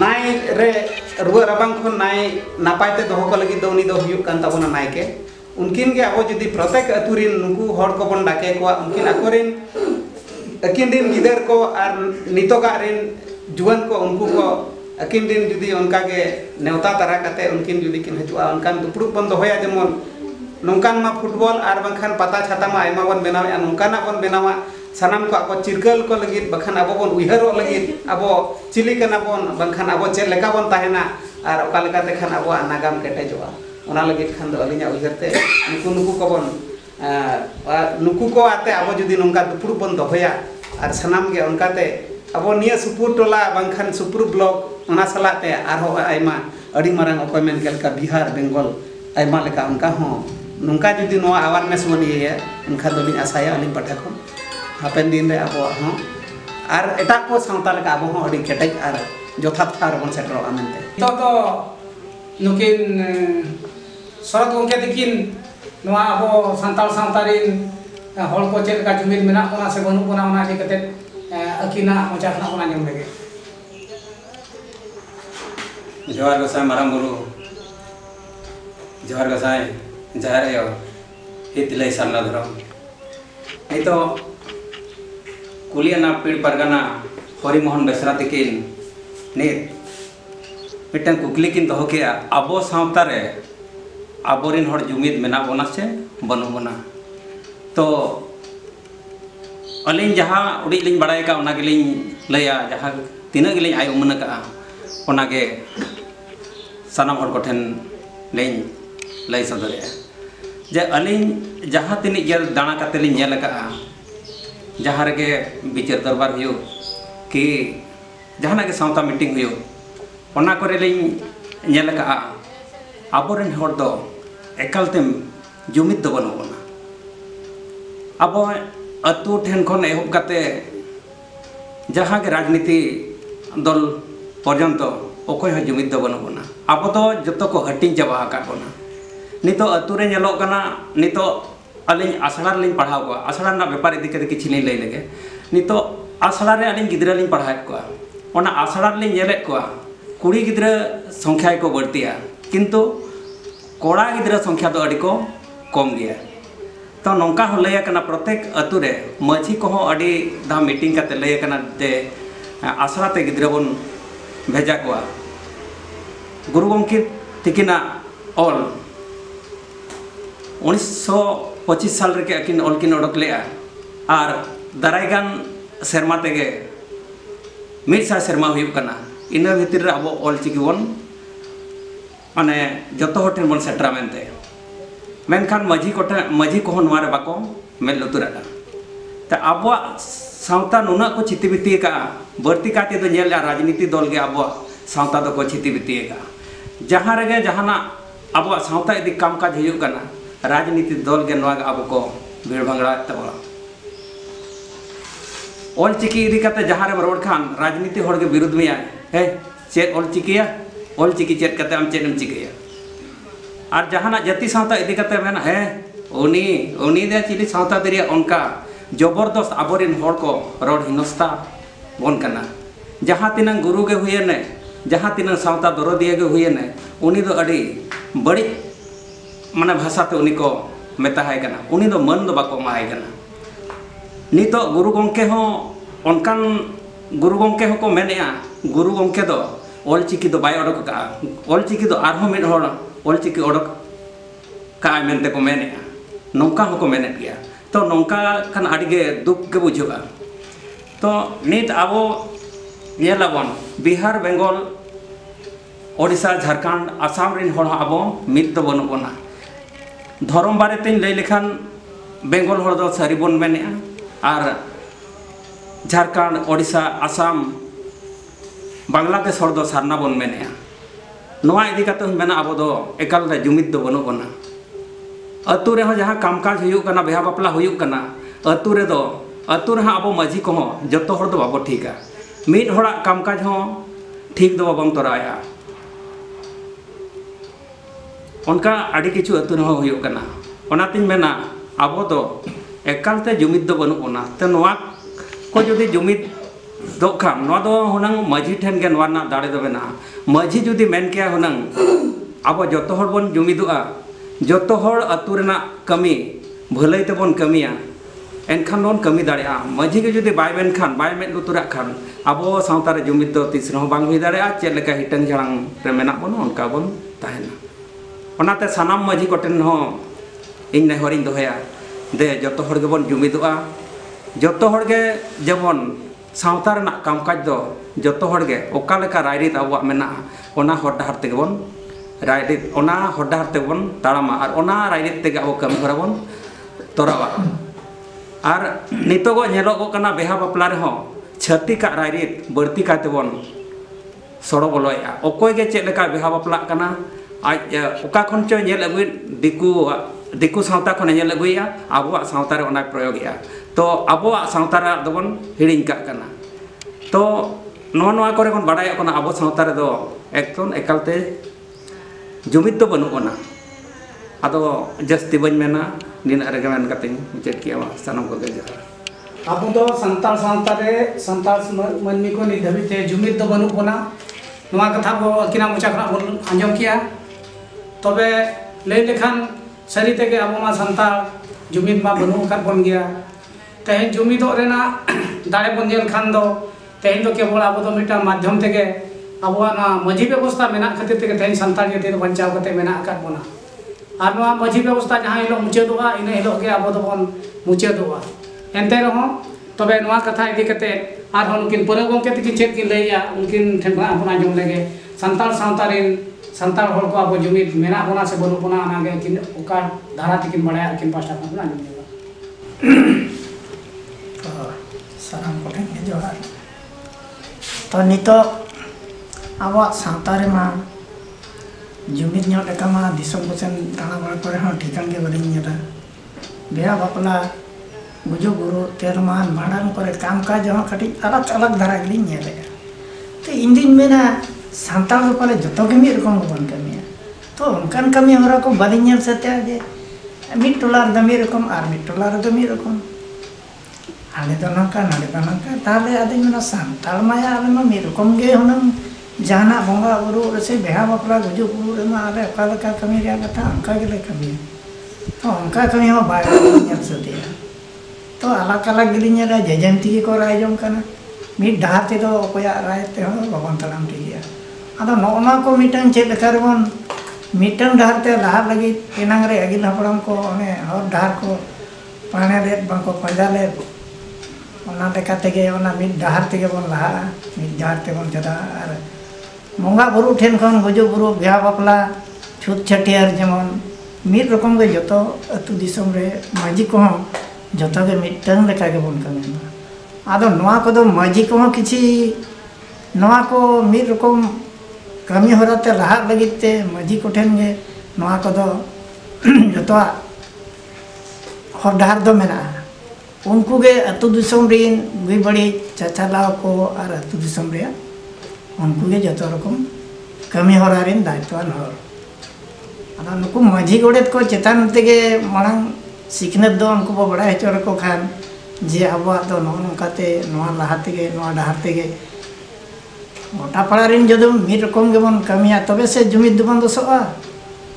ᱱᱟᱭ ᱨᱮ ᱨᱩᱣᱟᱹ ᱨᱟᱵᱟᱝ ᱠᱷᱚᱱ ᱱᱟᱭ ᱱᱟᱯᱟᱭ ᱛᱮ ᱫᱚᱦᱚ ᱠᱚ ᱞᱟᱹᱜᱤᱫ ᱫᱚ ᱩᱱᱤ ᱫᱚ ᱦᱩᱭᱩᱜ ᱠᱟᱱ ᱛᱟᱵᱚᱱᱟ ᱱᱟᱭᱠᱮ ᱩᱱᱠᱤᱱ ᱜᱮ ᱟᱵᱚ ᱡᱩᱫᱤ ᱯᱨᱚᱛᱮᱠ ᱟᱹᱛᱩ ᱨᱤᱱ ᱱᱩᱠᱩ ᱦᱚᱲ ᱠᱚᱵᱚᱱ ᱰᱟᱠᱮ ᱠᱚᱣᱟ ᱩᱱᱠᱤᱱ ᱟᱠᱚ ᱨᱤᱱ ᱟᱹᱠᱤᱱ ᱨᱤᱱ ᱜᱤᱫᱟᱹᱨ ᱠᱚ ᱟᱨ ᱱᱤᱛᱚᱜᱟᱜ ᱨᱤᱱ ᱡᱩᱣᱟᱹᱱ ᱠᱚ ᱩᱱᱠᱩ ᱠᱚ ᱟᱹᱠᱤᱱ ᱨᱤᱱ ᱡᱩᱫᱤ ᱚᱱᱠᱟ ᱜᱮ ᱱᱮᱣᱛᱟ ᱛᱟᱨᱟ ᱠᱟᱛᱮ ᱩᱱᱠᱤᱱ ᱡᱩᱫᱤ ᱠᱤᱱ ᱦᱤᱡᱩᱜᱼᱟ ᱚᱱᱠᱟᱱ ᱫᱩᱯᱲᱩᱵ ᱵᱚᱱ ᱫᱚᱦᱚᱭᱟ ᱡᱮᱢᱚᱱ ᱱᱚᱝᱠᱟᱱ ᱢᱟ ᱯᱷᱩᱴᱵᱚᱞ ᱟᱨ ᱵᱟᱝᱠᱷᱟᱱ ᱯᱟᱛᱟ ᱪᱷᱟᱛᱟ ᱢᱟ ᱟᱭᱢᱟ ᱵᱚᱱ ᱵᱮᱱᱟᱣᱮᱫᱼᱟ ᱱᱚᱝᱠᱟᱱᱟᱜ ᱵᱚᱱ ᱵᱮᱱᱟᱣᱟ ᱥᱟᱱᱟᱢ ᱠᱚ ᱟᱠᱚ ᱪᱤᱨᱜᱟᱹᱞ ᱠᱚ ᱞᱟᱹᱜᱤᱫ ᱵᱟᱠᱷᱟᱱ ᱟᱵᱚ ᱵᱚᱱ ᱩᱭᱦᱟᱹᱨᱚᱜ ᱞᱟᱹᱜᱤᱫ ᱟᱵᱚ ᱪᱤᱞᱤ ᱠᱟᱱᱟ ᱵᱚᱱ ᱵᱟᱝᱠᱷᱟᱱ ᱟᱵᱚ ᱪᱮᱫ ᱞᱮᱠᱟ ᱵᱚᱱ ᱛᱟᱦᱮᱱᱟ ᱟᱨ ᱚᱠᱟ ᱞᱮᱠᱟᱛᱮ ᱠᱷᱟᱱ ᱟᱵᱚᱣᱟᱜ ᱱᱟᱜᱟᱢ ᱠᱮᱴᱮᱡᱚᱜᱼᱟ ᱚᱱᱟ ᱞᱟᱹᱜᱤᱫ ᱠᱷᱟᱱ ᱫᱚ ᱟᱹᱞᱤᱧᱟᱜ ᱩᱭᱦᱟᱹᱨ ᱛᱮ ᱱᱩᱠᱩ ᱱᱩᱠᱩ ᱠᱚᱵᱚᱱ ᱱᱩᱠᱩ ᱠᱚ ᱟᱛᱮ ᱟᱵᱚ ᱡᱩᱫᱤ ᱱᱚᱝᱠᱟ ᱫᱩᱯᱲᱩᱵ ᱵᱚᱱ ᱫᱚᱦᱚᱭᱟ ᱟᱨ ᱥᱟᱱᱟᱢ ᱜᱮ ᱚᱱᱠᱟᱛᱮ ᱟᱵᱚ ᱱᱤᱭᱟᱹ ᱥᱩᱯᱩᱨ ᱴᱚᱞᱟ ᱵᱟᱝᱠᱷᱟᱱ ᱥᱩᱯᱩᱨ ᱵᱞᱚᱠ ᱚᱱᱟ ᱥᱟᱞᱟᱜ ᱛᱮ ᱟᱨᱦᱚᱸ ᱟᱭᱢᱟ ᱟᱹᱰᱤ ᱢᱟᱨᱟᱝ ᱚᱠᱚᱭ ᱢᱮᱱ ᱠᱮᱫ ᱞᱮᱠᱟ ᱵᱤᱦᱟᱨ ᱵᱮᱝᱜᱚᱞ ᱟᱭᱢᱟ ᱞᱮᱠᱟ ᱚᱱᱠᱟ ᱦᱚᱸ ᱱᱚᱝᱠᱟ ᱡᱩᱫᱤ ᱱᱚᱣᱟ ᱟᱣᱟᱨᱱᱮᱥ ᱵᱚᱱ ᱤᱭᱟᱹᱭᱟ ᱮᱱᱠᱷᱟᱱ ᱫᱚᱞᱤᱧ ᱟᱥᱟᱭᱟ ᱟᱹᱞᱤᱧ ᱯᱟᱦᱴᱟ ᱠᱷᱚᱱ ᱦᱟᱯᱮᱱ ᱫᱤᱱ ᱨᱮ ᱟᱵᱚᱣᱟᱜ ᱦᱚᱸ ᱟᱨ ᱮᱴᱟᱜ ᱠᱚ ᱥᱟᱶᱛᱟ ᱞᱮᱠᱟ ᱟᱵᱚ ᱦᱚᱸ ᱟᱹᱰᱤ ᱠᱮᱴᱮᱡ ᱟᱨ ᱡᱚᱛᱷᱟᱛ ᱴᱷᱟᱶ ᱨᱮᱵᱚᱱ ᱥᱮᱴᱮᱨᱚᱜᱼᱟ ᱢᱮᱱᱛᱮ ᱱᱤᱛᱚᱜ ᱫᱚ ᱱᱩᱠᱤᱱ ᱥᱚᱨᱚᱛ ᱜᱚᱢᱠᱮ ᱛᱤᱠᱤᱱ ᱱᱚᱣᱟ ᱟᱵᱚ ᱥᱟᱱᱛᱟᱲ ᱥᱟᱶᱛᱟ ᱨᱤᱱ ᱦᱚᱲ ᱠᱚ ᱪᱮᱫ ᱞᱮᱠᱟ ᱡᱩᱢᱤᱫ ᱢᱮᱱᱟᱜ ᱵᱚᱱᱟ ᱥᱮ ᱵᱟᱹᱱᱩᱜ ᱵᱚᱱᱟ ᱚᱱᱟ ᱤᱫᱤ ᱠᱟᱛᱮ ᱟᱹᱠᱤᱱᱟᱜ ᱢᱚᱪᱟ ᱠᱷᱚᱱᱟᱜ ᱵᱚᱱ ᱟᱸᱡᱚᱢ ᱞᱮᱜᱮ ᱡᱚᱦᱟᱨ ᱜᱚᱥᱟᱭ ᱢᱟᱨᱟᱝ ᱵᱩᱨᱩ ᱡᱚᱦᱟᱨ ᱜᱚᱥᱟᱭ ᱡᱟᱦᱮᱨ ᱟᱭᱳ ᱦᱤᱛ ᱞᱟᱹᱭ ᱥᱟᱨᱱᱟ ᱫᱷᱚᱨᱚᱢ ᱱᱤᱛᱚᱜ ᱠᱩᱞᱤᱭᱟᱱᱟ ᱯᱤᱲ ᱯᱟᱨᱜᱟᱱᱟ ᱦᱚᱨᱤᱢᱳᱦᱚᱱ ᱵᱮᱥᱨᱟ ᱛᱤᱠᱤᱱ ᱱᱤᱛ ᱢᱤᱫᱴᱟᱝ ᱠᱩᱠᱞᱤ ᱠᱤᱱ ᱫᱚᱦᱚ ᱠᱮᱫᱼᱟ ᱟᱵᱚ ᱥᱟᱶᱛᱟ ᱨᱮ ᱟᱵᱚ ᱨᱮᱱ ᱦᱚᱲ ᱡᱩᱢᱤᱫ ᱢᱮᱱᱟᱜ ᱵᱚᱱᱟ ᱥᱮ ᱵᱟᱹᱱᱩᱜ ᱵᱚᱱᱟ ᱛᱚ ᱟᱹᱞᱤᱧ ᱡᱟᱦᱟᱸ ᱩᱰᱤᱡ ᱞᱤᱧ ᱵᱟᱲᱟᱭ ᱟᱠᱟᱫ ᱚᱱᱟ ᱜᱮᱞᱤᱧ ᱞᱟᱹᱭᱟ ᱡᱟᱦᱟᱸ ᱛᱤᱱᱟᱹᱜ ᱜᱮᱞᱤᱧ ᱟᱭ ᱩᱢᱟᱹᱱ ᱟᱠᱟᱫᱼᱟ ᱚᱱᱟ ᱜᱮ ᱥᱟᱱᱟᱢ ᱦᱚᱲ ᱠᱚᱴᱷᱮᱱ ᱞᱤᱧ ᱞᱟᱹᱭ ᱥᱚᱫᱚᱨᱮᱫᱼᱟ ᱡᱮ ᱟᱹᱞᱤᱧ ᱡᱟᱦᱟᱸ ᱛᱤᱱᱟᱹᱜ ᱜᱮ ᱫᱟᱬᱟ ᱠᱟᱛᱮ ᱞᱤᱧ ᱧᱮᱞ ᱟᱠᱟᱫᱼᱟ ᱡᱟᱦᱟᱸ ᱨᱮᱜᱮ ᱵᱤᱪᱟᱹᱨ ᱫᱚᱨᱵᱟᱨ ᱦᱩᱭᱩᱜ ᱠᱤ ᱡᱟᱦᱟᱱᱟᱜ ᱜᱮ ᱥᱟᱶᱛᱟ ᱢᱤᱴᱤᱝ ᱦᱩᱭᱩᱜ ᱚᱱᱟ ᱠᱚᱨᱮ ᱞᱤᱧ ᱧᱮᱞ ᱟᱠᱟᱫᱼᱟ ᱟᱵᱚ ᱨᱮᱱ ᱦᱚᱲ ᱫᱚ ᱮᱠᱟᱞ ᱛᱮ ᱡᱩᱢᱤᱫ ᱫᱚ ᱵᱟᱹᱱᱩᱜ ᱵᱚᱱᱟ ᱟᱵᱚ ᱟᱹᱛᱩ ᱴᱷᱮᱱ ᱠᱷᱚᱱ ᱮᱦᱚᱵ ᱠᱟᱛᱮ ᱡᱟᱦᱟᱸ ᱜᱮ ᱨᱟᱡᱽᱱᱤᱛᱤ ᱫᱚᱞ ᱯᱚᱨᱡᱚᱱᱛᱚ ᱚᱠᱚᱭ ᱦᱚᱸ ᱡᱩᱢᱤᱫ ᱫᱚ ᱵᱟᱹᱱᱩᱜ ᱵᱚᱱᱟ ᱟᱵᱚ ᱫᱚ ᱡᱚᱛᱚ ᱠᱚ ᱦᱟᱹᱴᱤᱧ ᱪᱟᱵᱟ ᱟᱠᱟᱫ ᱵᱚᱱᱟ ᱱᱤᱛᱚᱜ ᱟᱹᱛᱩ ᱨᱮ ᱧᱮᱞᱚᱜ ᱠᱟᱱᱟ ᱱᱤᱛᱚᱜ ᱟᱹᱞᱤᱧ ᱟᱥᱲᱟ ᱨᱮᱞᱤᱧ ᱯᱟᱲᱦᱟᱣ ᱠᱚᱣᱟ ᱟᱥᱲᱟ ᱨᱮᱱᱟᱜ ᱵᱮᱯᱟᱨ ᱤᱫᱤ ᱠᱟᱛᱮ ᱠᱤᱪᱷᱩ ᱞᱤᱧ ᱞᱟᱹᱭ ᱞᱮᱜᱮ ᱱᱤᱛᱚᱜ ᱟᱥᱲᱟ ᱨᱮ ᱟᱹᱞᱤᱧ ᱜᱤᱫᱽᱨᱟᱹ ᱞᱤᱧ ᱯᱟᱲᱦᱟᱣᱮᱫ ᱠᱚᱣᱟ ᱚᱱᱟ ᱟᱥᱲᱟ ᱨᱮᱞᱤᱧ ᱧᱮᱞᱮᱫ ᱠᱚᱣᱟ ᱠᱩᱲᱤ ᱜᱤᱫᱽᱨᱟᱹ ᱥᱚᱝᱠᱷᱟ ᱜᱮᱠᱚ ᱵᱟᱹᱲᱛᱤᱜᱼᱟ ᱠᱤᱱᱛᱩ ᱠᱚᱲᱟ ᱜᱤᱫᱽᱨᱟᱹ ᱥᱚᱝᱠᱷᱟ ᱫᱚ ᱟᱹᱰᱤ ᱠᱚ ᱠᱚᱢ ᱜᱮᱭᱟ ᱛᱚ ᱱᱚᱝᱠᱟ ᱦᱚᱸ ᱞᱟᱹᱭ ᱟᱠᱟᱱᱟ ᱯᱨᱚᱛᱮᱠ ᱟᱹᱛᱩ ᱨᱮ ᱢᱟᱹᱡᱷᱤ ᱠᱚᱦᱚᱸ ᱟᱹᱰᱤ ᱫᱷᱟᱣ ᱢᱤᱴᱤᱝ ᱠᱟᱛᱮ ᱞᱟᱹᱭ ᱟᱠᱟᱱᱟ ᱡᱮ ᱟᱥᱲᱟ ᱛᱮ ᱜᱤᱫᱽᱨᱟᱹ ᱵᱚᱱ ᱵᱷᱮᱡᱟ ᱠᱚᱣᱟ ᱜᱩᱨᱩ ᱜᱚᱢᱠᱮ ᱛᱤᱠᱤᱱᱟᱜ ᱚᱞ ᱩᱱᱤᱥᱥᱚ ᱯᱚᱸᱪᱤᱥ ᱥᱟᱞ ᱨᱮᱜᱮ ᱟᱹᱠᱤᱱ ᱚᱞ ᱠᱤᱱ ᱚᱰᱚᱠ ᱞᱮᱫᱼᱟ ᱟᱨ ᱫᱟᱨᱟᱭ ᱠᱟᱱ ᱥᱮᱨᱢᱟ ᱛᱮᱜᱮ ᱢᱤᱫ ᱥᱟᱭ ᱥᱮᱨᱢᱟ ᱦᱩᱭᱩᱜ ᱠᱟᱱᱟ ᱤᱱᱟᱹ ᱵᱷᱤᱛᱤᱨ ᱨᱮ ᱟᱵᱚ ᱚᱞ ᱪᱤᱠᱤ ᱵᱚᱱ ᱢᱟᱱᱮ ᱡᱚᱛᱚ ᱦᱚᱲ ᱴᱷᱮᱱ ᱵᱚᱱ ᱥᱮᱴᱮᱨᱟ ᱢᱮᱱᱛᱮ ᱢᱮᱱᱠᱷᱟᱱ ᱢᱟᱹᱡᱷᱤ ᱠᱚᱴᱷᱮᱱ ᱢᱟᱹᱡᱷᱤ ᱠᱚᱦᱚᱸ ᱱᱚᱣᱟ ᱨᱮ ᱵᱟᱠᱚ ᱢᱮᱫ ᱞᱩᱛᱩᱨᱟᱜ ᱠᱟᱱᱟ ᱛᱚ ᱟᱵᱚᱣᱟᱜ ᱥᱟᱶᱛᱟ ᱱᱩᱱᱟᱹᱜ ᱠᱚ ᱪᱷᱤᱛᱤ ᱵᱤᱛᱤ ᱟᱠᱟᱫᱼᱟ ᱵᱟᱹᱲᱛᱤ ᱠᱟᱭ ᱛᱮᱫᱚ ᱧᱮᱞᱮᱫᱼᱟ ᱨᱟᱡᱽᱱᱤᱛᱤ ᱫᱚᱞ ᱜᱮ ᱟᱵᱚᱣᱟᱜ ᱥᱟᱶᱛᱟ ᱫᱚᱠᱚ ᱪᱷᱤᱛᱤ ᱵᱤᱛᱤ ᱟᱠᱟᱫᱼᱟ ᱡᱟᱦᱟᱸ ᱨᱮᱜᱮ ᱡᱟᱦᱟᱱᱟᱜ ᱟᱵᱚᱣᱟᱜ ᱥᱟᱶᱛᱟ ᱤᱫᱤ ᱠᱟᱢ ᱠᱟᱡᱽ ᱦᱩᱭᱩᱜ ᱠᱟᱱᱟ ᱨᱟᱡᱽᱱᱤᱛᱤ ᱫᱚᱞ ᱜᱮ ᱱᱚᱣᱟ ᱜᱮ ᱟᱵᱚ ᱠᱚ ᱵᱷᱤᱲ ᱵᱷᱟᱝᱲᱟᱣᱮᱫ ᱛᱟᱵᱚᱱᱟ ᱚᱞ ᱪᱤᱠᱤ ᱤᱫᱤ ᱠᱟᱛᱮ ᱡᱟᱦᱟᱸ ᱨᱮᱢ ᱨᱚᱲ ᱠᱷᱟᱱ ᱨᱟᱡᱽᱱᱤᱛᱤ ᱦᱚᱲ ᱜᱮ ᱵᱤᱨᱩᱫᱷ ᱢᱮᱭᱟ ᱦᱮ ᱪᱮᱫ ᱚᱞ ᱪᱤᱠᱤᱭᱟ ᱚᱞ ᱪᱤᱠᱤ ᱪᱮᱫ ᱠᱟᱛᱮ ᱟᱢ ᱪᱮᱫ ᱮᱢ ᱪᱤᱠᱟᱹᱭᱟ ᱟᱨ ᱡᱟᱦᱟᱱᱟᱜ ᱡᱟᱹᱛᱤ ᱥᱟᱶᱛᱟ ᱤᱫᱤ ᱠᱟᱛᱮ ᱢᱮᱱᱟ ᱦᱮ ᱩᱱᱤ ᱩᱱᱤ ᱫᱚ ᱪᱤᱞᱤ ᱥᱟᱶᱛᱟ ᱫᱮᱨᱤᱭᱟ ᱚᱱᱠᱟ ᱡᱚᱵᱚᱨᱫᱚᱥᱛ ᱟᱵᱚᱨᱮᱱ ᱦᱚᱲ ᱠᱚ ᱨᱚᱲ ᱦᱤᱱᱚᱥᱛᱟ ᱵᱚᱱ ᱠᱟᱱᱟ ᱡᱟᱦᱟᱸ ᱛᱤᱱᱟᱹᱝ ᱜᱩᱨᱩ ᱜᱮ ᱦᱩᱭᱮᱱᱮ, ᱡᱟᱦᱟᱸ ᱛᱤᱱᱟᱹᱝ ᱥᱟᱶᱛᱟ ᱫᱚᱨᱚᱫᱤᱭᱟᱹ ᱜᱮ ᱦᱩᱭᱮᱱᱮ, ᱩᱱᱤ ᱫᱚ ᱟᱹᱰᱤ ᱵᱟᱹᱲᱤᱡ ᱢᱟᱱᱮ ᱵᱷᱟᱥᱟ ᱛᱮ ᱩᱱᱤ ᱠᱚ ᱢᱮᱛᱟ ᱦᱟᱭ ᱠᱟᱱᱟ᱾ ᱩᱱᱤ ᱫᱚ ᱢᱟᱹᱱ ᱫᱚ ᱵᱟᱠᱚ ᱮᱢᱟ ᱦᱟᱭ ᱠᱟᱱᱟ᱾ ᱱᱤᱛᱚᱜ ᱜᱩᱨᱩ ᱜᱚᱢᱠᱮ ᱦᱚᱸ ᱚᱱᱠᱟᱱ ᱜᱩᱨᱩ ᱜᱚᱢᱠᱮ ᱦᱚᱸ ᱠᱚ ᱢᱮᱱᱮᱜᱼᱟ, ᱜᱩᱨᱩ ᱜᱚᱢᱠᱮ ᱫᱚ ᱚᱞ ᱪᱤᱠᱤ ᱫᱚ ᱵᱟᱭ ᱚᱰᱚᱠ ᱟᱠᱟᱫᱼᱟ᱾ ᱚᱞ ᱪᱤᱠᱤ ᱫᱚ ᱟᱨᱦᱚᱸ ᱢᱤᱫ ᱦᱚᱲ ᱚᱞ ᱪᱤᱠᱤ ᱚᱰᱚᱠ ᱠᱟᱜᱼᱟᱭ ᱢᱮᱱᱛᱮ ᱠᱚ ᱢᱮᱱᱮᱜᱼᱟ᱾ ᱱᱚᱝᱠᱟ ᱦᱚᱸ ᱠᱚ ᱢᱮᱱᱮᱫ ᱜᱮᱭᱟ᱾ ᱛᱚ ᱱᱚᱝᱠᱟ ᱠᱷᱟᱱ ᱟᱹᱰᱤ ᱜᱮ ᱫᱩᱠ ᱜᱮ ᱵᱩᱡᱷᱟᱹᱜᱼᱟ᱾ ᱛᱚ ᱱᱤᱛ ᱟᱵᱚ ᱧᱮᱞ ᱟᱵᱚᱱ ᱵᱤᱦᱟᱨ ᱵᱮᱝᱜᱚᱞ ᱳᱰᱤᱥᱟ ᱡᱷᱟᱲᱠᱷᱚᱸᱰ ᱟᱥᱟᱢ ᱨᱮᱱ ᱦᱚᱲ ᱦᱚᱸ ᱟᱵᱚ ᱢᱤᱫ ᱫᱚ ᱵᱟᱹᱱᱩᱜ ᱵᱚᱱᱟ ᱫᱷᱚᱨᱚᱢ ᱵᱟᱨᱮ ᱛᱮᱧ ᱞᱟᱹᱭ ᱞᱮᱠᱷᱟᱱ ᱵᱮᱝᱜᱚᱞ ᱦᱚᱲ ᱫᱚ ᱥᱟᱹᱨᱤ ᱵᱚᱱ ᱢᱮᱱᱮᱜᱼᱟ ᱟᱨ ᱡᱷᱟᱲᱠᱷᱚᱸᱰ ᱳᱰᱤᱥᱟ ᱟᱥᱟᱢ ᱵᱟᱝᱞᱟᱫᱮᱥ ᱦᱚᱲ ᱫᱚ ᱥᱟᱨᱱᱟ ᱵᱚᱱ ᱢᱮᱱᱮᱜᱼᱟ ᱱᱚᱣᱟ ᱤᱫᱤ ᱠᱟᱛᱮ ᱦᱚᱸ ᱢᱮᱱᱟ ᱟᱵᱚ ᱫᱚ ᱮᱠᱟᱞ ᱨᱮ ᱡᱩᱢᱤᱫ ᱫᱚ ᱵᱟᱹᱱᱩᱜ ᱵᱚᱱᱟ ᱟᱹᱛᱩ ᱨᱮᱦᱚᱸ ᱡᱟᱦᱟᱸ ᱠᱟᱢᱠᱟᱡᱽ ᱦᱩᱭᱩᱜ ᱠᱟᱱᱟ ᱵᱮᱦᱟ ᱵᱟᱯᱞᱟ ᱦᱩᱭᱩᱜ ᱠᱟᱱᱟ ᱟᱹᱛᱩ ᱨᱮᱫᱚ ᱟᱹᱛᱩ ᱨᱮᱦᱚᱸ ᱟᱵᱚ ᱢᱟᱹᱡᱷᱤ ᱠᱚᱦᱚᱸ ᱡᱚᱛᱚ ᱦᱚᱲ ᱫᱚ ᱵᱟᱵᱚ ᱴᱷᱤᱠᱟ ᱢᱤᱫ ᱦᱚᱲᱟᱜ ᱠᱟᱢᱠᱟᱡᱽ ᱦᱚᱸ ᱴᱷᱤᱠ ᱫᱚ ᱵᱟᱵᱚᱱ ᱛᱚᱨᱟᱣᱮᱜᱼᱟ ᱚᱱᱠᱟ ᱟᱹᱰᱤ ᱠᱤᱪᱷᱩ ᱟᱹᱛᱩ ᱨᱮᱦᱚᱸ ᱦᱩᱭᱩᱜ ᱠᱟᱱᱟ ᱚᱱᱟᱛᱤᱧ ᱢᱮᱱᱟ ᱟᱵᱚ ᱫᱚ ᱮᱠᱟᱞ ᱛᱮ ᱡᱩᱢᱤᱫ ᱫᱚ ᱵᱟᱹᱱᱩᱜ ᱵᱚᱱᱟ ᱛᱚ ᱱᱚᱣᱟ ᱠᱚ ᱡᱩᱫᱤ ᱡᱩᱢᱤᱫᱚᱜ ᱠᱷᱟᱱ ᱱᱚᱣᱟ ᱫᱚ ᱦᱩᱱᱟᱹᱝ ᱢᱟᱹᱡᱷᱤ ᱴᱷᱮᱱ ᱜᱮ ᱱᱚᱣᱟ ᱨᱮᱱᱟᱜ ᱫᱟᱲᱮ ᱫᱚ ᱢᱮᱱᱟᱜᱼᱟ ᱢᱟᱹᱡᱷᱤ ᱡᱩᱫᱤ ᱢᱮᱱ ᱠᱮᱭᱟᱭ ᱦᱩᱱᱟᱹᱝ ᱟᱵᱚ ᱡᱚᱛᱚ ᱦᱚᱲ ᱵᱚᱱ ᱡᱩᱢᱤᱫᱚᱜᱼᱟ ᱡᱚᱛᱚ ᱦᱚᱲ ᱟᱹᱛᱩ ᱨᱮᱱᱟᱜ ᱠᱟᱹᱢᱤ ᱵᱷᱟᱹᱞᱟᱹᱭ ᱛᱮᱵᱚᱱ ᱠᱟᱹᱢᱤᱭᱟ ᱮᱱᱠᱷᱟᱱ ᱵᱚᱱ ᱠᱟᱹᱢᱤ ᱫᱟᱲᱮᱭᱟᱜᱼᱟ ᱢᱟᱹᱡᱷᱤ ᱜᱮ ᱡᱩᱫᱤ ᱵᱟᱭ ᱢᱮᱱ ᱠᱷᱟᱱ ᱵᱟᱭ ᱢᱮᱫ ᱞᱩᱛᱩᱨᱟᱜ ᱠᱷᱟᱱ ᱟᱵᱚ ᱥᱟᱶᱛᱟ ᱨᱮ ᱡᱩᱢᱤᱫ ᱫᱚ ᱛᱤᱥ ᱨᱮᱦᱚᱸ ᱵᱟᱝ ᱦᱩᱭ ᱫᱟᱲᱮᱭᱟᱜᱼᱟ ᱪᱮᱫ ᱞᱮᱠᱟ ᱦᱤᱴᱟᱹᱝ ᱡᱷᱟᱲᱟᱝ ᱨᱮ ᱢᱮᱱᱟᱜ ᱵᱚᱱᱟ ᱚᱱᱠᱟ ᱵᱚᱱ ᱛᱟᱦᱮᱱᱟ ᱚᱱᱟᱛᱮ ᱥᱟᱱᱟᱢ ᱢᱟᱹᱡᱷᱤ ᱠᱚᱴᱷᱮᱱ ᱦᱚᱸ ᱤᱧ ᱱᱮᱦᱚᱨ ᱤᱧ ᱫᱚᱦᱚᱭᱟ ᱫᱮ ᱡᱚᱛᱚ ᱦᱚᱲ ᱜᱮᱵᱚᱱ ᱡᱩᱢᱤᱫᱚᱜᱼᱟ ᱡᱚᱛᱚ ᱦᱚᱲ ᱜᱮ ᱡᱮᱢᱚᱱ ᱥᱟᱶᱛᱟ ᱨᱮᱱᱟᱜ ᱠᱟᱢᱠᱟᱡᱽ ᱫᱚ ᱡᱚᱛᱚ ᱦᱚᱲ ᱜᱮ ᱚᱠᱟ ᱞᱮᱠᱟ ᱨᱟᱭᱨᱤᱛ ᱟᱵᱚᱣᱟᱜ ᱢᱮᱱᱟᱜᱼᱟ ᱚᱱᱟ ᱦᱚᱨ ᱰᱟᱦᱟᱨ ᱛᱮᱜᱮ ᱵᱚᱱ ᱨᱟᱭᱨᱤᱛ ᱚᱱᱟ ᱦᱚᱨ ᱰᱟᱦᱟᱨ ᱛᱮᱜᱮ ᱵᱚᱱ ᱛᱟᱲᱟᱢᱟ ᱟᱨ ᱚᱱᱟ ᱨᱟᱭᱨᱤᱛ ᱛᱮᱜᱮ ᱟᱵᱚ ᱠᱟᱹᱢᱤ ᱦᱚᱨᱟ ᱵᱚᱱ ᱛᱚᱨᱟᱣᱟ ᱟᱨ ᱱᱤᱛᱚᱜᱚᱜ ᱧᱮᱞᱚᱜᱚᱜ ᱠᱟᱱᱟ ᱵᱤᱦᱟᱹ ᱵᱟᱯᱞᱟ ᱨᱮᱦᱚᱸ ᱪᱷᱟᱹᱛᱤᱠᱟᱜ ᱨᱟᱭᱨᱤᱛ ᱵᱟᱹᱲᱛᱤ ᱠᱟᱭᱛᱮ ᱵᱚᱱ ᱥᱚᱲᱚ ᱵᱚᱞᱚᱭᱮᱜᱼᱟ ᱚᱠᱚᱭ ᱜᱮ ᱪᱮᱫ ᱞᱮᱠᱟ ᱵᱤᱦᱟ ᱵᱟᱯᱞᱟᱜ ᱠᱟᱱᱟ ᱟᱡ ᱚᱠᱟ ᱠᱷᱚᱱ ᱪᱚᱭ ᱧᱮᱞ ᱟᱹᱜᱩᱭᱮᱫ ᱫᱤᱠᱩᱣᱟᱜ ᱫᱤᱠᱩ ᱥᱟᱶᱛᱟ ᱠᱷᱚᱱᱮ ᱧᱮᱞ ᱟᱹᱜᱩᱭᱮᱜᱼᱟ ᱟᱵᱚᱣᱟᱜ ᱥᱟᱶᱛᱟ ᱨᱮ ᱚᱱᱟᱭ ᱯᱨᱚᱭᱳᱜᱮᱜᱼᱟ ᱛᱚ ᱟᱵᱚᱣᱟᱜ ᱥᱟᱶᱛᱟ ᱨᱮᱱᱟᱜ ᱫᱚᱵᱚᱱ ᱦᱤᱲᱤᱧ ᱠᱟᱜ ᱠᱟᱱᱟ ᱛᱚ ᱱᱚᱜᱼᱚ ᱱᱚᱣᱟ ᱠᱚᱨᱮ ᱵᱚᱱ ᱵᱟᱰᱟᱭᱚᱜ ᱠᱟᱱᱟ ᱟᱵᱚ ᱥᱟᱶᱛᱟ ᱨᱮᱫᱚ ᱮᱠᱫᱚᱢ ᱮᱠᱟᱞ ᱛᱮ ᱡᱩᱢᱤᱫ ᱫᱚ ᱵᱟᱹᱱᱩᱜ ᱟᱱᱟ ᱟᱫᱚ ᱡᱟᱹᱥᱛᱤ ᱵᱟᱹᱧ ᱢᱮᱱᱟ ᱱᱤᱱᱟᱹᱜ ᱨᱮᱜᱮ ᱢᱮᱱ ᱠᱟᱛᱮᱧ ᱢᱩᱪᱟᱹᱫ ᱠᱮᱜᱼᱟ ᱢᱟ ᱥᱟᱱᱟᱢ ᱠᱚᱜᱮ ᱡᱚᱦᱟᱨ ᱟᱵᱚ ᱫᱚ ᱥᱟᱱᱛᱟᱲ ᱥᱟᱶᱛᱟ ᱨᱮ ᱥᱟᱱᱛᱟᱲ ᱢᱟᱹᱱᱢᱤ ᱠᱚ ᱱᱤᱛ ᱫᱷᱟᱹᱵᱤᱡ ᱛᱮ ᱡᱩᱢᱤᱫ ᱫᱚ ᱵᱟᱹᱱᱩᱜ ᱵᱚᱱᱟ ᱱᱚᱣᱟ ᱠᱟᱛᱷᱟ ᱵᱚ ᱟᱹᱠᱤᱱᱟᱜ ᱢᱚᱪᱟ ᱠᱷᱚᱱᱟᱜ ᱵᱚᱱ ᱟᱸᱡᱚᱢ ᱠᱮᱜᱼᱟ ᱛᱚᱵᱮ ᱞᱟᱹᱭ ᱞᱮᱠᱷᱟᱱ ᱥᱟᱹᱨᱤ ᱛᱮᱜᱮ ᱟᱵᱚ ᱢᱟ ᱥᱟᱱᱛᱟᱲ ᱡᱩᱢᱤᱫ ᱢᱟ ᱵᱟᱹᱱᱩᱜ ᱟᱠᱟᱫ ᱵᱚᱱ ᱜᱮᱭᱟ ᱛᱮᱦᱮᱧ ᱡᱩᱢᱤᱫᱚᱜ ᱨᱮᱱᱟᱜ ᱫᱟᱲᱮ ᱵᱚᱱ ᱧᱮᱞ ᱠᱷᱟᱱ ᱫᱚ ᱛᱮᱦᱮᱧ ᱫᱚ ᱠᱮᱵᱚᱞ ᱟᱵᱚ ᱫᱚ ᱢᱤᱫᱴᱟᱝ ᱢᱟᱫᱽᱫᱷᱚᱢ ᱛᱮᱜᱮ ᱟᱵᱚᱣᱟᱜ ᱱᱚᱣᱟ ᱢᱟᱹᱡᱷᱤ ᱵᱮᱵᱚᱥᱛᱟ ᱢᱮᱱᱟᱜ ᱠᱷᱟᱹᱛᱤᱨ ᱛᱮᱜᱮ ᱛᱮᱦᱮᱧ ᱥᱟᱱᱛᱟᱲ ᱡᱟᱹᱛᱤ ᱫᱚ ᱵᱟᱧᱪᱟᱣ ᱠᱟᱛᱮ ᱢᱮᱱᱟᱜ ᱟᱠᱟᱫ ᱵᱚᱱᱟ ᱟᱨ ᱱᱚᱣᱟ ᱢᱟᱹᱡᱷᱤ ᱵᱮᱵᱚᱥᱛᱟ ᱡᱟᱦᱟᱸ ᱦᱤᱞᱳᱜ ᱢᱩᱪᱟᱹᱫᱚᱜᱼᱟ ᱤᱱᱟᱹ ᱦᱤᱞᱳᱜ ᱜᱮ ᱟᱵᱚ ᱫᱚᱵᱚᱱ ᱢᱩᱪᱟᱹᱫᱚᱜᱼᱟ ᱮᱱᱛᱮ ᱨᱮᱦᱚᱸ ᱛᱚᱵᱮ ᱱᱚᱣᱟ ᱠᱟᱛᱷᱟ ᱤᱫᱤ ᱠᱟᱛᱮ ᱟᱨᱦᱚᱸ ᱩᱱᱠᱤᱱ ᱯᱟᱹᱨᱟᱹ ᱜᱚᱢᱠᱮ ᱛᱟᱹᱠᱤᱱ ᱪᱮᱫ ᱠᱤᱱ ᱞᱟᱹᱭᱟ ᱩᱱᱠᱤᱱ ᱴᱷᱮᱱ ᱠᱷᱚᱱᱟᱜ ᱵᱚᱱ ᱟᱸᱡᱚᱢ ᱞᱮᱜᱮ ᱥᱟᱱᱛᱟᱲ ᱥᱟᱶᱛᱟ ᱨᱮᱱ ᱥᱟᱱᱛᱟᱲ ᱦᱚᱲ ᱠᱚ ᱟᱵᱚ ᱡᱩᱢᱤᱫ ᱢᱮᱱᱟᱜ ᱵᱚᱱᱟ ᱥᱮ ᱵᱟᱹᱱᱩᱜ ᱵᱚᱱᱟ ᱚᱱᱟᱜᱮ ᱩᱱᱠᱤᱱ ᱚᱠᱟ ᱫᱷᱟᱨᱟ ᱛᱮᱠᱤᱱ ᱵᱟᱲᱟᱭᱟ ᱩᱱᱠᱤᱱ ᱯᱟᱥᱴᱟ ᱠᱷᱚᱱ ᱵᱚᱱ ᱟᱸᱡᱚᱢ ᱞᱮᱜᱮ ᱥᱟᱱᱟᱢ ᱠᱚᱴᱷᱮᱱ ᱜᱮ ᱡᱚᱦᱟᱨ ᱛᱚ ᱱᱤᱛᱚᱜ ᱟᱵᱚᱣᱟᱜ ᱥᱟᱶᱛᱟ ᱨᱮᱢᱟ ᱡᱩᱢᱤᱫ ᱧᱚᱜ ᱞᱮᱠᱟ ᱢᱟ ᱫᱤᱥᱚᱢ ᱠᱚ ᱥᱮᱱ ᱫᱟᱬᱟ ᱵᱟᱲᱟ ᱠᱚᱨᱮ ᱦᱚᱸ ᱴᱷᱤᱠᱟᱹᱱ ᱜᱮ ᱵᱟᱹᱞᱤᱧ ᱧᱮᱞᱟ ᱵᱤᱦᱟᱹ ᱵᱟᱯᱞᱟ ᱜᱩᱡᱩᱜ ᱜᱩᱨᱩᱜ ᱛᱮᱨᱢᱟᱱ ᱵᱷᱟᱸᱰᱟᱱ ᱠᱚᱨᱮ ᱠᱟᱢ ᱠᱟᱡᱽ ᱦᱚᱸ ᱠᱟᱹᱴᱤᱡ ᱟᱞᱟᱜᱽ ᱟᱞᱟᱜᱽ ᱫᱷᱟᱨᱟ ᱜᱮᱞᱤᱧ ᱧᱮᱞᱮᱜᱼᱟ ᱛᱚ ᱤᱧ ᱫᱩᱧ ᱢᱮᱱᱟ ᱥᱟᱱᱛᱟᱲ ᱫᱚ ᱯᱟᱞᱮ ᱡᱚᱛᱚ ᱜᱮ ᱢᱤᱫ ᱨᱚᱠᱚᱢ ᱜᱮᱵᱚᱱ ᱠᱟᱹᱢᱤᱭᱟ ᱛᱚ ᱚᱱᱠᱟᱱ ᱠᱟᱹᱢᱤ ᱦᱚᱨᱟ ᱠᱚ ᱵᱟᱹᱞᱤᱧ ᱧᱮᱞ ᱥᱟᱹᱛᱮᱜᱼᱟ ᱡᱮ ᱢᱤᱫ ᱴᱚᱞᱟ ᱨᱮᱫᱚ ᱢᱤᱫ ᱨᱚᱠᱚᱢ ᱟᱨ ᱢᱤᱫ ᱴᱚᱞᱟ ᱨᱮᱫᱚ ᱢᱤᱫ ᱨᱚᱠᱚᱢ ᱦᱟᱸᱰᱮ ᱫᱚ ᱱᱚᱝᱠᱟ ᱱᱟᱸᱰᱮ ᱫᱚ ᱱᱚᱝᱠᱟ ᱛᱟᱦᱚᱞᱮ ᱟᱫᱚᱧ ᱢᱮᱱᱟ ᱥᱟᱱᱛᱟᱲ ᱢᱟᱭᱟ ᱟᱞᱮ ᱢᱟ ᱢᱤᱫ ᱨᱚᱠᱚᱢ ᱜᱮ ᱦᱩᱱᱟᱹᱝ ᱡᱟᱦᱟᱱᱟᱜ ᱵᱚᱸᱜᱟ ᱵᱩᱨᱩ ᱨᱮᱥᱮ ᱵᱤᱦᱟᱹ ᱵᱟᱯᱞᱟ ᱜᱩᱡᱩᱜ ᱜᱩᱨᱩᱜ ᱨᱮᱢᱟ ᱟᱞᱮ ᱚᱠᱟ ᱞᱮᱠᱟ ᱠᱟᱹᱢᱤ ᱨᱮᱭᱟᱜ ᱠᱟᱛᱷᱟ ᱚᱱᱠᱟ ᱜᱮᱞᱮ ᱠᱟᱹᱢᱤᱭᱟ ᱛᱚ ᱚᱱᱠᱟ ᱠᱟᱹᱢᱤ ᱦᱚᱸ ᱵᱟᱭ ᱧᱮᱞ ᱥᱟᱹᱛᱮᱜᱼᱟ ᱛᱚ ᱟᱞᱟᱠ ᱟᱞᱟᱠ ᱜᱮᱞᱤᱧ ᱧᱮᱞᱟ ᱡᱮᱡᱮᱢ ᱛᱮᱜᱮ ᱠᱚ ᱨᱟᱭ ᱡᱚᱝ ᱠᱟᱱᱟ ᱢᱤᱫ ᱰᱟᱦᱟᱨ ᱛᱮᱫᱚ ᱚᱠᱚᱭᱟᱜ ᱨᱟᱭ ᱛᱮᱦᱚᱸ ᱵᱟᱵᱚᱱ ᱛᱟᱲᱟᱢ ᱴᱷᱤᱠᱮᱜᱼᱟ ᱟᱫᱚ ᱱᱚᱜᱼᱚ ᱱᱚᱣᱟ ᱠᱚ ᱢᱤᱫᱴᱟᱝ ᱪᱮᱫ ᱞᱮᱠᱟ ᱨᱮᱵᱚᱱ ᱢᱤᱫᱴᱟᱝ ᱰᱟᱦᱟᱨ ᱛᱮ ᱞᱟᱦᱟᱜ ᱞᱟᱹᱜᱤᱫ ᱮᱱᱟᱝ ᱨᱮ ᱟᱹᱜᱤᱞ ᱦᱟᱯᱲᱟᱢ ᱠᱚ ᱚᱱᱮ ᱦᱚᱨ ᱰᱟᱦᱟᱨ ᱠᱚ ᱯᱟᱸᱲᱮ ᱞᱮᱫ ᱵᱟᱝ ᱠᱚ ᱯᱟᱸᱡᱟ ᱞᱮᱫ ᱚᱱᱟ ᱞᱮᱠᱟ ᱛᱮᱜᱮ ᱚᱱᱟ ᱢᱤᱫ ᱰᱟᱦᱟᱨ ᱛᱮᱜᱮ ᱵᱚᱱ ᱞᱟᱦᱟᱜᱼᱟ ᱢᱤᱫ ᱰᱟᱦᱟᱨ ᱛᱮᱵᱚᱱ ᱪᱟᱞᱟᱜᱼᱟ ᱟᱨ ᱵᱚᱸᱜᱟ ᱵᱩᱨᱩ ᱴᱷᱮᱱ ᱠᱷᱚᱱ ᱜᱩᱡᱩᱜ ᱵᱩᱨᱩ ᱵᱤᱦᱟ ᱵᱟᱯᱞᱟ ᱪᱷᱩᱛ ᱪᱷᱟᱹᱴᱭᱟᱹᱨ ᱡᱮᱢᱚᱱ ᱢᱤᱫ ᱨᱚᱠᱚᱢ ᱜᱮ ᱡᱚᱛᱚ ᱟᱹᱛᱩ ᱫᱤᱥᱚᱢ ᱨᱮ ᱢᱟᱺᱡᱷᱤ ᱠᱚᱦᱚᱸ ᱡᱚᱛᱚ ᱜᱮ ᱢᱤᱫᱴᱟᱹᱝ ᱞᱮᱠᱟ ᱜᱮᱵᱚᱱ ᱠᱟᱹᱢᱤ ᱢᱟ ᱟᱫᱚ ᱱᱚᱣᱟ ᱠᱚᱫᱚ ᱢᱟᱺᱡᱷᱤ ᱠᱚᱦᱚᱸ ᱠᱤᱪᱷᱤ ᱱᱚᱣᱟ ᱠᱚ ᱢᱤᱫ ᱨᱚᱠᱚᱢ ᱠᱟᱹᱢᱤ ᱦᱚᱨᱟ ᱛᱮ ᱞᱟᱦᱟᱜ ᱞᱟᱹᱜᱤᱫ ᱛᱮ ᱢᱟᱺᱡᱷᱤ ᱠᱚᱴᱷᱮᱱ ᱜᱮ ᱱᱚᱣᱟ ᱠᱚᱫᱚ ᱡᱚᱛᱚᱣᱟᱜ ᱦᱚᱨ ᱰᱟᱦᱟᱨ ᱫᱚ ᱢᱮᱱᱟᱜᱼᱟ ᱩᱱᱠᱩ ᱜᱮ ᱟᱹᱛᱩ ᱫᱤᱥᱚᱢ ᱨᱤᱱ ᱵᱩᱜᱤ ᱵᱟᱹᱲᱤᱡ ᱪᱟᱪᱟᱞᱟᱣ ᱠᱚ ᱟᱨ ᱟᱹᱛᱩ ᱫᱤᱥᱚᱢ ᱨᱮᱭᱟᱜ ᱩᱱᱠᱩ ᱜᱮ ᱡᱚᱛᱚ ᱨᱚᱠᱚᱢ ᱠᱟᱹᱢᱤ ᱦᱚᱨᱟ ᱨᱤᱱ ᱫᱟᱭᱤᱛᱛᱚᱣᱟᱱ ᱦᱚᱲ ᱟᱫᱚ ᱱᱩᱠᱩ ᱢᱟᱹᱡᱷᱤ ᱜᱚᱰᱮᱛ ᱠᱚ ᱪᱮᱛᱟᱱ ᱛᱮᱜᱮ ᱢᱟᱲᱟᱝ ᱥᱤᱠᱷᱱᱟᱹᱛ ᱫᱚ ᱩᱱᱠᱩ ᱵᱚ ᱵᱟᱲᱟᱭ ᱦᱚᱪᱚ ᱞᱮᱠᱚ ᱠᱷᱟᱱ ᱡᱮ ᱟᱵᱚᱣᱟᱜ ᱫᱚ ᱱᱚᱜᱼᱚ ᱱᱚᱝᱠᱟᱛᱮ ᱱᱚᱣᱟ ᱞᱟᱦᱟ ᱛᱮᱜᱮ ᱱᱚᱣᱟ ᱰᱟᱦᱟᱨ ᱛᱮᱜᱮ ᱜᱚᱴᱟ ᱯᱟᱲᱟ ᱨᱮᱱ ᱡᱩᱫᱤ ᱢᱤᱫ ᱨᱚᱠᱚᱢ ᱜᱮᱵᱚᱱ ᱠᱟᱹᱢᱤᱭᱟ ᱛᱚᱵᱮ ᱥᱮ ᱡᱩᱢᱤᱫ ᱫᱚᱵᱚᱱ ᱫᱚᱥᱚᱜᱼᱟ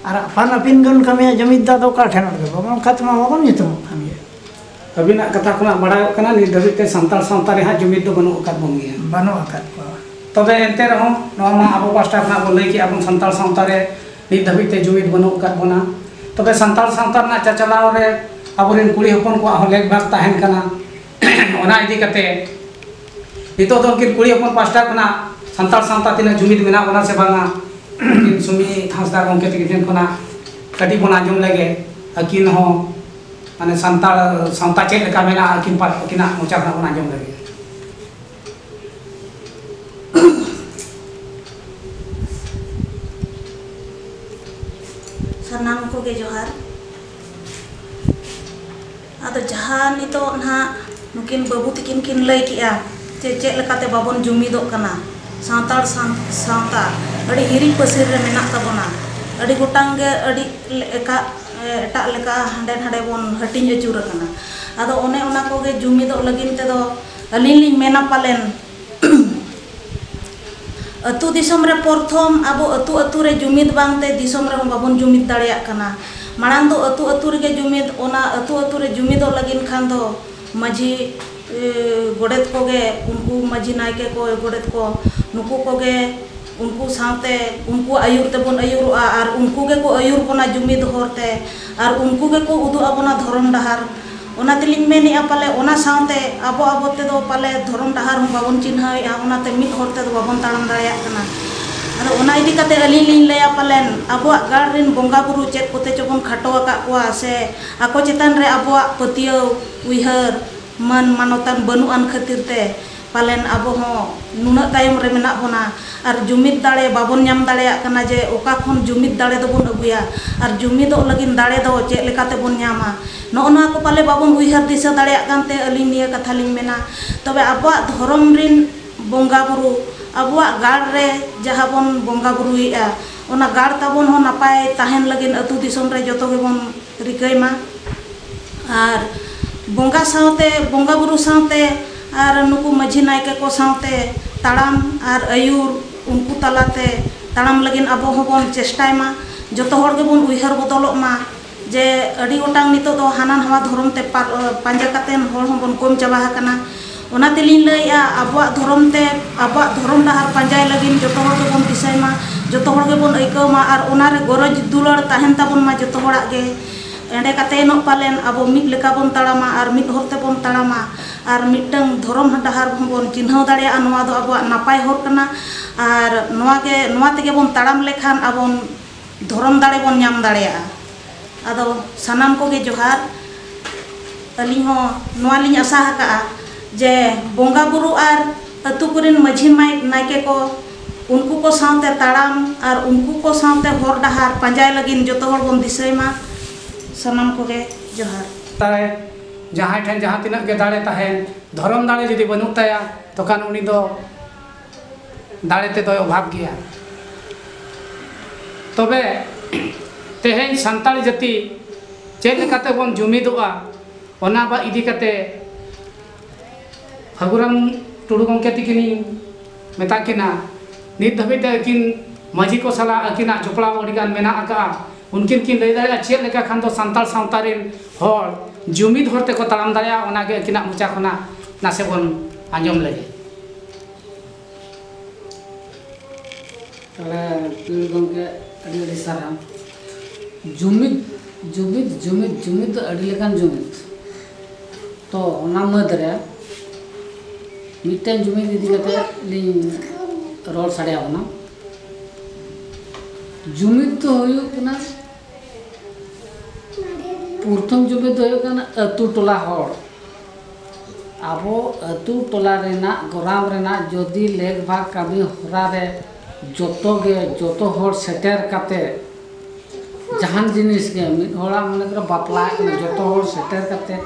ᱟᱨ ᱟᱯᱟᱱ ᱟᱹᱯᱤᱱ ᱵᱚᱱ ᱠᱟᱹᱢᱤᱭᱟ ᱡᱩᱢᱤᱫ ᱫᱚ ᱟᱫᱚ ᱚᱠᱟ ᱴᱷᱮᱱ ᱜᱮ ᱵᱟᱵᱚᱱ ᱚᱱᱠᱟ ᱛᱮᱢᱟ ᱵᱟᱵᱚᱱ ᱧᱩᱛᱩᱢᱚᱜ ᱠᱟᱱ ᱜᱮᱭᱟ ᱟᱹᱵᱤᱱᱟᱜ ᱠᱟᱛᱷᱟ ᱠᱷᱚᱱᱟᱜ ᱵᱟᱲᱟᱭᱚᱜ ᱠᱟᱱᱟ ᱱᱤᱛ ᱫᱷᱟᱹᱵᱤᱡ ᱛᱮ ᱥᱟᱱᱛᱟᱲ ᱥᱟᱶᱛᱟ ᱨᱮ ᱦᱟᱸᱜ ᱡᱩᱢᱤᱫ ᱫᱚ ᱵᱟᱹᱱᱩᱜ ᱟᱠᱟᱫ ᱵᱚᱱ ᱜᱮᱭᱟ ᱵᱟᱹᱱᱩᱜ ᱟᱠᱟᱫ ᱠᱚᱣᱟ ᱛᱚᱵᱮ ᱮᱱᱛᱮ ᱨᱮᱦᱚᱸ ᱱᱚᱣᱟ ᱢᱟ ᱟᱵᱚ ᱯᱟᱥᱴᱟ ᱠᱷᱚᱱᱟᱜ ᱵᱚᱱ ᱞᱟᱹᱭ ᱠᱮᱜᱼᱟ ᱵᱚᱱ ᱥᱟᱱᱛᱟᱲ ᱥᱟᱶᱛᱟ ᱨᱮ ᱱᱤᱛ ᱫᱷᱟᱹᱵᱤᱡ ᱛᱮ ᱡᱩᱢᱤᱫ ᱵᱟᱹᱱᱩᱜ ᱟᱠᱟᱫ ᱵᱚᱱᱟ ᱛᱚᱵᱮ ᱥᱟᱱᱛᱟᱲ ᱥᱟᱶᱛᱟ ᱨᱮᱱᱟᱜ ᱪᱟᱪᱟᱞᱟᱣ ᱨᱮ ᱟᱵᱚᱨᱮᱱ ᱠᱩᱲᱤ ᱦᱚᱯᱚᱱ ᱠᱚᱣᱟᱜ ᱦᱚᱸ ᱞᱮᱠ ᱵᱷᱟᱜᱽ ᱛᱟᱦᱮᱱ ᱠᱟᱱᱟ ᱚᱱᱟ ᱤᱫᱤ ᱠᱟᱛᱮ ᱱᱤᱛᱚᱜ ᱫᱚ ᱩᱱᱠᱤᱱ ᱠᱩᱲᱤ ᱦᱚᱯᱚᱱ ᱯᱟᱥᱴᱟ ᱠᱷᱚᱱᱟᱜ ᱥᱟᱱᱛᱟᱲ ᱥᱟᱶᱛᱟ ᱛᱤᱱᱟᱹᱜ ᱡᱩᱢᱤᱫ ᱢᱮᱱᱟᱜ ᱵᱚᱱᱟ ᱥᱮ ᱵᱟᱝᱟ ᱩᱱᱠᱤᱱ ᱥᱩᱢᱤ ᱦᱟᱸᱥᱫᱟ ᱜᱚᱢᱠᱮ ᱛᱟᱹᱠᱤᱱ ᱴᱷᱮᱱ ᱠᱷᱚᱱᱟᱜ ᱠᱟᱹᱴᱤᱡ ᱵᱚᱱ ᱟᱸᱡᱚᱢ ᱞᱮᱜᱮ ᱟᱹᱠᱤᱱ ᱦᱚᱸ ᱢᱟᱱᱮ ᱥᱟᱱᱛᱟᱲ ᱥᱟᱶᱛᱟ ᱪᱮᱫ ᱞᱮᱠᱟ ᱢᱮᱱᱟᱜᱼᱟ ᱟᱹᱠᱤᱱ ᱟᱹᱠᱤᱱᱟᱜ ᱢᱚᱪᱟ ᱠᱷᱚᱱᱟᱜ ᱵᱚᱱ ᱟᱸᱡᱚᱢ ᱞᱮᱜᱮ ᱥᱟᱱᱟᱢ ᱠᱚᱜᱮ ᱡᱚᱦᱟᱨ ᱟᱫᱚ ᱡᱟᱦᱟᱸ ᱱᱤᱛᱚᱜ ᱱᱟᱦᱟᱜ ᱱᱩᱠᱤᱱ ᱵᱟᱹᱵᱩ ᱛᱤᱠᱤᱱ ᱠᱤᱱ ᱞᱟᱹᱭ ᱠᱮᱫᱼᱟ ᱡᱮ ᱪᱮᱫ ᱞᱮᱠᱟᱛᱮ ᱵᱟᱵᱚᱱ ᱡᱩᱢᱤᱫᱚᱜ ᱠᱟᱱᱟ ᱥᱟᱱᱛᱟᱲ ᱥᱟᱶᱛᱟ ᱟᱹᱰᱤ ᱦᱤᱨᱤᱡ ᱯᱟᱹᱥᱤᱨ ᱨᱮ ᱢᱮᱱᱟᱜ ᱛᱟᱵᱚᱱᱟ ᱟᱹᱰᱤ ᱜᱚᱴᱟᱝ ᱜᱮ ᱟᱹᱰᱤ ᱞᱮᱠᱟ ᱮᱴᱟᱜ ᱞᱮᱠᱟ ᱦᱟᱸᱰᱮ ᱱᱷᱟᱰᱮ ᱵᱚᱱ ᱦᱟᱹᱴᱤᱧ ᱟᱹᱪᱩᱨ ᱟᱠᱟᱱᱟ ᱟᱫᱚ ᱚᱱᱮ ᱚᱱᱟ ᱠᱚᱜᱮ ᱡᱩᱢᱤᱫᱚᱜ ᱞᱟᱹᱜᱤᱫ ᱛᱮᱫᱚ ᱟᱹᱞᱤᱧ ᱞᱤᱧ ᱢᱮᱱᱟ ᱯᱟᱞᱮᱱ ᱟᱹᱛᱩ ᱫᱤᱥᱚᱢ ᱨᱮ ᱯᱚᱨᱛᱷᱚᱢ ᱟᱵᱚ ᱟᱹᱛᱩ ᱟᱹᱛᱩ ᱨᱮ ᱡᱩᱢᱤᱫᱽ ᱵᱟᱝ ᱛᱮ ᱫᱤᱥᱚᱢ ᱨᱮᱦᱚᱸ ᱵᱟᱵᱚᱱ ᱡᱩᱢᱤᱫᱽ ᱫᱟᱲᱮᱭᱟᱜ ᱠᱟᱱᱟ ᱢᱟᱲᱟᱝ ᱫᱚ ᱟᱹᱛᱩ ᱟᱹᱛᱩ ᱨᱮᱜᱮ ᱡᱩᱢᱤᱫᱽ ᱚᱱᱟ ᱟᱹᱛᱩ ᱟᱹᱛᱩ ᱨᱮ ᱡᱩᱢᱤᱫᱚᱜ ᱞᱟᱹᱜᱤᱫ ᱠᱷᱟᱱ ᱫᱚ ᱢᱟᱹᱡᱷᱤ ᱜᱚᱰᱮᱛ ᱠᱚᱜᱮ ᱩᱱᱠᱩ ᱢᱟᱹᱡᱷᱤ ᱱᱟᱭᱠᱮ ᱠᱚ ᱜᱚᱰᱮᱛ ᱠᱚ ᱱᱩᱠᱩ ᱠᱚᱜᱮ ᱩᱱᱠᱩ ᱥᱟᱶᱛᱮ ᱩᱱᱠᱩᱣᱟᱜ ᱟᱹᱭᱩᱨ ᱛᱮᱵᱚᱱ ᱟᱹᱭᱩᱨᱚᱜᱼᱟ ᱟᱨ ᱩᱱᱠᱩ ᱜᱮᱠᱚ ᱟᱹᱭᱩᱨ ᱵᱚᱱᱟ ᱡᱩᱢᱤᱫ ᱦᱚᱨᱛᱮ ᱟᱨ ᱩᱱᱠᱩ ᱜᱮᱠᱚ ᱩᱫᱩᱜ ᱟᱵᱚᱱᱟ ᱫᱷᱚᱨᱚᱢ ᱰᱟᱦᱟᱨ ᱚᱱᱟ ᱛᱮᱞᱤᱧ ᱢᱮᱱᱮᱫᱼᱟ ᱯᱟᱞᱮ ᱚᱱᱟ ᱥᱟᱶᱛᱮ ᱟᱵᱚ ᱟᱵᱚ ᱛᱮᱫᱚ ᱯᱟᱞᱮ ᱫᱷᱚᱨᱚᱢ ᱰᱟᱦᱟᱨ ᱦᱚᱸ ᱵᱟᱵᱚᱱ ᱪᱤᱱᱦᱟᱹᱣᱮᱫᱼᱟ ᱚᱱᱟᱛᱮ ᱢᱤᱫ ᱦᱚᱨ ᱛᱮᱫᱚ ᱵᱟᱵᱚᱱ ᱛᱟᱲᱟᱢ ᱫᱟᱲᱮᱭᱟᱜ ᱠᱟᱱᱟ ᱟᱫᱚ ᱚᱱᱟ ᱤᱫᱤ ᱠᱟᱛᱮᱫ ᱟᱹᱞᱤᱧ ᱞᱤᱧ ᱞᱟᱹᱭᱟ ᱯᱟᱞᱮᱱ ᱟᱵᱚᱣᱟᱜ ᱜᱟᱲ ᱨᱮᱱ ᱵᱚᱸᱜᱟ ᱵᱩᱨᱩ ᱪᱮᱫ ᱠᱚᱛᱮ ᱪᱚᱵᱚᱱ ᱠᱷᱟᱴᱚ ᱟᱠᱟᱫ ᱠᱚᱣᱟ ᱥᱮ ᱟᱠᱚ ᱪᱮᱛᱟᱱ ᱨᱮ ᱟᱵᱚᱣᱟᱜ ᱯᱟᱹᱛᱭᱟᱹᱣ ᱩᱭᱦᱟᱹᱨ ᱢᱟᱹᱱ ᱢᱟᱱᱚᱛᱟᱱ ᱵᱟᱹᱱᱩᱜ ᱟᱱ ᱠᱷᱟᱹᱛᱤᱨ ᱛᱮ ᱯᱟᱞᱮᱱ ᱟᱵᱚ ᱦᱚᱸ ᱱᱩᱱᱟᱹᱜ ᱛᱟᱭᱚᱢ ᱨᱮ ᱢᱮᱱᱟᱜ ᱵᱚᱱᱟ ᱟᱨ ᱡᱩᱢᱤᱫ ᱫᱟᱲᱮ ᱵᱟᱵᱚᱱ ᱧᱟᱢ ᱫᱟᱲᱮᱭᱟᱜ ᱠᱟᱱᱟ ᱡᱮ ᱚᱠᱟ ᱠᱷᱚᱱ ᱡᱩᱢᱤᱫ ᱫᱟᱲᱮ ᱫᱚᱵᱚᱱ ᱟᱹᱜᱩᱭᱟ ᱟᱨ ᱡᱩᱢᱤᱫᱚᱜ ᱞᱟᱹᱜᱤᱫ ᱫᱟᱲᱮ ᱫᱚ ᱪᱮᱫ ᱞᱮᱠᱟ ᱛᱮᱵᱚᱱ ᱧᱟᱢᱟ ᱱᱚᱜᱼᱚ ᱱᱚᱣᱟ ᱠᱚ ᱯᱟᱞᱮ ᱵᱟᱵᱚᱱ ᱩᱭᱦᱟᱹᱨ ᱫᱤᱥᱟᱹ ᱫᱟᱲᱮᱭᱟᱜ ᱠᱟᱱ ᱛᱮ ᱟᱹᱞᱤᱧ ᱱᱤᱭᱟᱹ ᱠᱟᱛᱷᱟ ᱞᱤᱧ ᱢᱮᱱᱟ ᱛᱚᱵᱮ ᱟᱵᱚᱣᱟᱜ ᱫᱷᱚᱨᱚᱢ ᱨᱮᱱ ᱵᱚᱸᱜᱟ ᱵᱳᱨᱳ ᱟᱵᱚᱣᱟᱜ ᱜᱟᱲ ᱨᱮ ᱡᱟᱦᱟᱸ ᱵᱚᱱ ᱵᱚᱸᱜᱟ ᱵᱳᱨᱳᱭᱮᱜᱼᱟ ᱚᱱᱟ ᱜᱟᱲ ᱛᱟᱵᱚᱱ ᱦᱚᱸ ᱱᱟᱯᱟᱭ ᱛᱟᱦᱮᱱ ᱞᱟᱹᱜᱤᱫ ᱟᱹᱛᱩ ᱫᱤᱥᱚᱢ ᱨᱮ ᱡᱚᱛᱚ ᱜᱮᱵᱚᱱ ᱨᱤᱠᱟᱹᱭ ᱢᱟ ᱟᱨ ᱵᱚᱸᱜᱟ ᱥᱟᱶᱛᱮ ᱵᱚᱸᱜᱟ ᱵᱩᱨᱩ ᱥᱟᱶᱛᱮ ᱟᱨ ᱱᱩᱠᱩ ᱢᱟᱹᱡᱷᱤ ᱱᱟᱭᱠᱮ ᱠᱚ ᱥᱟᱶᱛᱮ ᱛᱟᱲᱟᱢ ᱟᱨ ᱟᱹᱭᱩᱨ ᱩᱱᱠᱩ ᱛᱟᱞᱟᱛᱮ ᱛᱟᱲᱟᱢ ᱞᱟᱹᱜᱤᱫ ᱟᱵᱚ ᱦᱚᱸᱵᱚᱱ ᱪᱮᱥᱴᱟᱭ ᱢᱟ ᱡᱚᱛᱚ ᱦᱚᱲ ᱜᱮᱵᱚᱱ ᱩᱭᱦᱟᱹᱨ ᱵᱚᱫᱚᱞᱚᱜ ᱢᱟ ᱡᱮ ᱟᱹᱰᱤ ᱜᱚᱴᱟᱝ ᱱᱤᱛᱚᱜ ᱫᱚ ᱦᱟᱱᱟ ᱱᱚᱣᱟ ᱫᱷᱚᱨᱚᱢ ᱛᱮ ᱯᱟᱸᱡᱟ ᱠᱟᱛᱮᱫ ᱦᱚᱲ ᱦᱚᱸᱵᱚᱱ ᱠᱚᱢ ᱪᱟᱵᱟ ᱟᱠᱟᱱᱟ ᱚᱱᱟ ᱛᱮᱞᱤᱧ ᱞᱟᱹᱭᱮᱫᱼᱟ ᱟᱵᱚᱣᱟᱜ ᱫᱷᱚᱨᱚᱢ ᱛᱮ ᱟᱵᱚᱣᱟᱜ ᱫᱷᱚᱨᱚᱢ ᱰᱟᱦᱟᱨ ᱯᱟᱸᱡᱟᱭ ᱞᱟᱹᱜᱤᱫ ᱡᱚᱛᱚ ᱦᱚᱲ ᱜᱮᱵᱚᱱ ᱫᱤᱥᱟᱹᱭ ᱢᱟ ᱡᱚᱛᱚ ᱦᱚᱲ ᱜᱮᱵᱚᱱ ᱟᱹᱭᱠᱟᱹᱣ ᱢᱟ ᱟᱨ ᱚᱱᱟ ᱨᱮ ᱜᱚᱨᱚᱡᱽ ᱫᱩᱞᱟᱹᱲ ᱛᱟᱦᱮᱱ ᱛᱟᱵᱚᱱ ᱢᱟ ᱡᱚᱛᱚ ᱦᱚᱲᱟᱜ ᱜᱮ ᱮᱸᱰᱮ ᱠᱟᱛᱮᱫ ᱮᱱᱚᱜ ᱯᱟᱞᱮᱱ ᱟᱵᱚ ᱢᱤᱫ ᱞᱮᱠᱟ ᱵᱚᱱ ᱛᱟᱲᱟᱢᱟ ᱟᱨ ᱢᱤᱫ ᱦᱚᱨ ᱛᱮᱵᱚᱱ ᱛᱟᱲᱟᱢᱟ ᱟᱨ ᱢᱤᱫᱴᱟᱹᱝ ᱫᱷᱚᱨᱚᱢ ᱰᱟᱦᱟᱨ ᱦᱚᱸ ᱵᱚᱱ ᱪᱤᱱᱦᱟᱹᱣ ᱫᱟᱲᱮᱭᱟᱜᱼᱟ ᱱᱚᱣᱟ ᱫᱚ ᱟᱵᱚᱣᱟᱜ ᱱᱟᱯᱟᱭ ᱦᱚᱨ ᱠᱟᱱᱟ ᱟᱨ ᱱᱚᱣᱟ ᱜᱮ ᱱᱚᱣᱟ ᱛᱮᱜᱮ ᱵᱚᱱ ᱛᱟᱲᱟᱢ ᱞᱮᱠᱷᱟᱱ ᱟᱵᱚᱱ ᱫᱷᱚᱨᱚᱢ ᱫᱟᱲᱮ ᱵᱚᱱ ᱧᱟᱢ ᱫᱟᱲᱮᱭᱟᱜᱼᱟ ᱟᱫᱚ ᱥᱟᱱᱟᱢ ᱠᱚᱜᱮ ᱡᱚᱦᱟᱨ ᱟᱹᱞᱤᱧ ᱦᱚᱸ ᱱᱚᱣᱟ ᱞᱤᱧ ᱟᱥᱟ ᱟᱠᱟᱫᱼᱟ ᱡᱮ ᱵᱚᱸᱜᱟ ᱵᱩᱨᱩ ᱟᱨ ᱟᱹᱛᱩ ᱠᱚᱨᱮᱱ ᱢᱟᱹᱡᱷᱤ ᱱᱟᱭᱠᱮ ᱠᱚ ᱩᱱᱠᱩ ᱠᱚ ᱥᱟᱶᱛᱮ ᱛᱟᱲᱟᱢ ᱟᱨ ᱩᱱᱠᱩ ᱠᱚ ᱥᱟᱶᱛᱮ ᱦᱚᱨ ᱰᱟᱦᱟᱨ ᱯᱟᱸᱡᱟᱭ ᱞᱟᱹᱜᱤᱫ ᱡᱚᱛᱚ ᱦᱚᱲ ᱵᱚᱱ ᱫᱤᱥᱟᱹᱭ ᱢᱟ ᱥᱟᱱᱟᱢ ᱠᱚᱜᱮ ᱡᱚᱦᱟᱨ ᱛᱟᱭ ᱡᱟᱦᱟᱸᱭ ᱴᱷᱮᱱ ᱡᱟᱦᱟᱸ ᱛᱤᱱᱟᱹᱜ ᱜᱮ ᱫᱟᱲᱮ ᱛᱟᱦᱮᱱ ᱫᱷᱚᱨᱚᱢ ᱫᱟᱲᱮ ᱡᱩᱫᱤ ᱵᱟᱹᱱᱩᱜ ᱛᱟᱭᱟ ᱛᱚᱠᱷᱟᱱ ᱩᱱᱤ ᱫᱚ ᱫᱟᱲᱮ ᱛᱮᱫᱚᱭ ᱚᱵᱷᱟᱵᱽ ᱜᱮᱭᱟ ᱛᱚᱵᱮ ᱛᱮᱦᱮᱧ ᱥᱟᱱᱛᱟᱲ ᱡᱟᱹᱛᱤ ᱪᱮᱫ ᱞᱮᱠᱟᱛᱮ ᱵᱚᱱ ᱡᱩᱢᱤᱫᱚᱜᱼᱟ ᱚᱱᱟ ᱵᱟ ᱤᱫᱤ ᱠᱟᱛᱮ ᱯᱷᱟᱹᱜᱩᱨᱟᱢ ᱴᱩᱰᱩ ᱜᱚᱢᱠᱮ ᱛᱤᱠᱤᱱᱤᱧ ᱢᱮᱛᱟ ᱠᱤᱱᱟ ᱱᱤᱛ ᱫᱷᱟᱹᱵᱤᱡ ᱛᱮ ᱟᱹᱠᱤᱱ ᱢᱟᱹᱡᱷᱤ ᱠᱚ ᱥᱟᱞᱟᱜ ᱟᱹᱠᱤᱱᱟᱜ ᱡᱚᱯᱲᱟᱣ ᱟᱹᱰᱤ ᱜᱟᱱ ᱢᱮᱱᱟᱜ ᱟᱠᱟᱫᱼᱟ ᱩᱱᱠᱤᱱ ᱠᱤᱱ ᱞᱟᱹᱭ ᱫᱟᱲᱮᱭᱟᱜᱼᱟ ᱪᱮᱫ ᱞᱮᱠᱟ ᱠᱷᱟᱱ ᱫᱚ ᱥᱟᱱᱛᱟᱲ ᱥᱟᱶᱛᱟ ᱨᱮᱱ ᱦᱚᱲ ᱡᱩᱢᱤᱫ ᱦᱚᱨ ᱛᱮᱠᱚ ᱛᱟᱲᱟᱢ ᱫᱟᱲᱮᱭᱟᱜᱼᱟ ᱚᱱᱟᱜᱮ ᱟᱹᱠᱤᱱᱟᱜ ᱢᱚᱪᱟ ᱠᱷᱚᱱᱟᱜ ᱱᱟᱥᱮ ᱵᱚᱱ ᱟᱸᱡᱚᱢ ᱞᱮᱜᱮ ᱛᱟᱦᱚᱞᱮ ᱯᱤᱲ ᱜᱚᱢᱠᱮ ᱟᱹᱰᱤ ᱟᱹᱰᱤ ᱥᱟᱨᱦᱟᱣ ᱡᱩᱢᱤᱫ ᱡᱩᱢᱤᱫ ᱡᱩᱢᱤᱫ ᱡᱩᱢᱤᱫ ᱫᱚ ᱟᱹᱰᱤ ᱞᱮᱠᱟᱱ ᱡᱩᱢᱤᱫ ᱛᱚ ᱚᱱᱟ ᱢᱩᱫᱽ ᱨᱮ ᱢᱤᱫᱴᱮᱱ ᱡᱩᱢᱤᱫ ᱤᱫᱤ ᱠᱟᱛᱮ ᱞᱤᱧ ᱨᱚᱲ ᱥᱟᱰᱮ ᱟᱵᱚᱱᱟ ᱡᱩᱢᱤᱫ ᱫᱚ ᱦᱩᱭᱩᱜ ᱠᱟᱱᱟ ᱯᱨᱚᱛᱷᱚᱢ ᱡᱩᱢᱤᱫ ᱫᱚ ᱦᱩᱭᱩᱜ ᱠᱟᱱᱟ ᱟᱹᱛᱩ ᱴᱚᱞᱟ ᱦᱚᱲ ᱟᱵᱚ ᱟᱹᱛᱩ ᱴᱚᱞᱟ ᱨᱮᱱᱟᱜ ᱜᱚᱨᱟᱢ ᱨᱮᱱᱟᱜ ᱡᱚᱫᱤ ᱞᱮᱠ ᱵᱷᱟᱜᱽ ᱠᱟᱹᱢᱤ ᱦᱚᱨᱟ ᱨᱮ ᱡᱚᱛᱚ ᱜᱮ ᱡᱚᱛᱚ ᱦᱚᱲ ᱥᱮᱴᱮᱨ ᱠᱟᱛᱮ ᱡᱟᱦᱟᱱ ᱡᱤᱱᱤᱥ ᱜᱮ ᱢᱤᱫ ᱦᱚᱲᱟᱜ ᱢᱚᱱᱮ ᱠᱚᱨᱚ ᱵᱟᱯᱞᱟ ᱡᱚᱛᱚ ᱦᱚᱲ ᱥᱮᱴᱮᱨ ᱠᱟᱛᱮ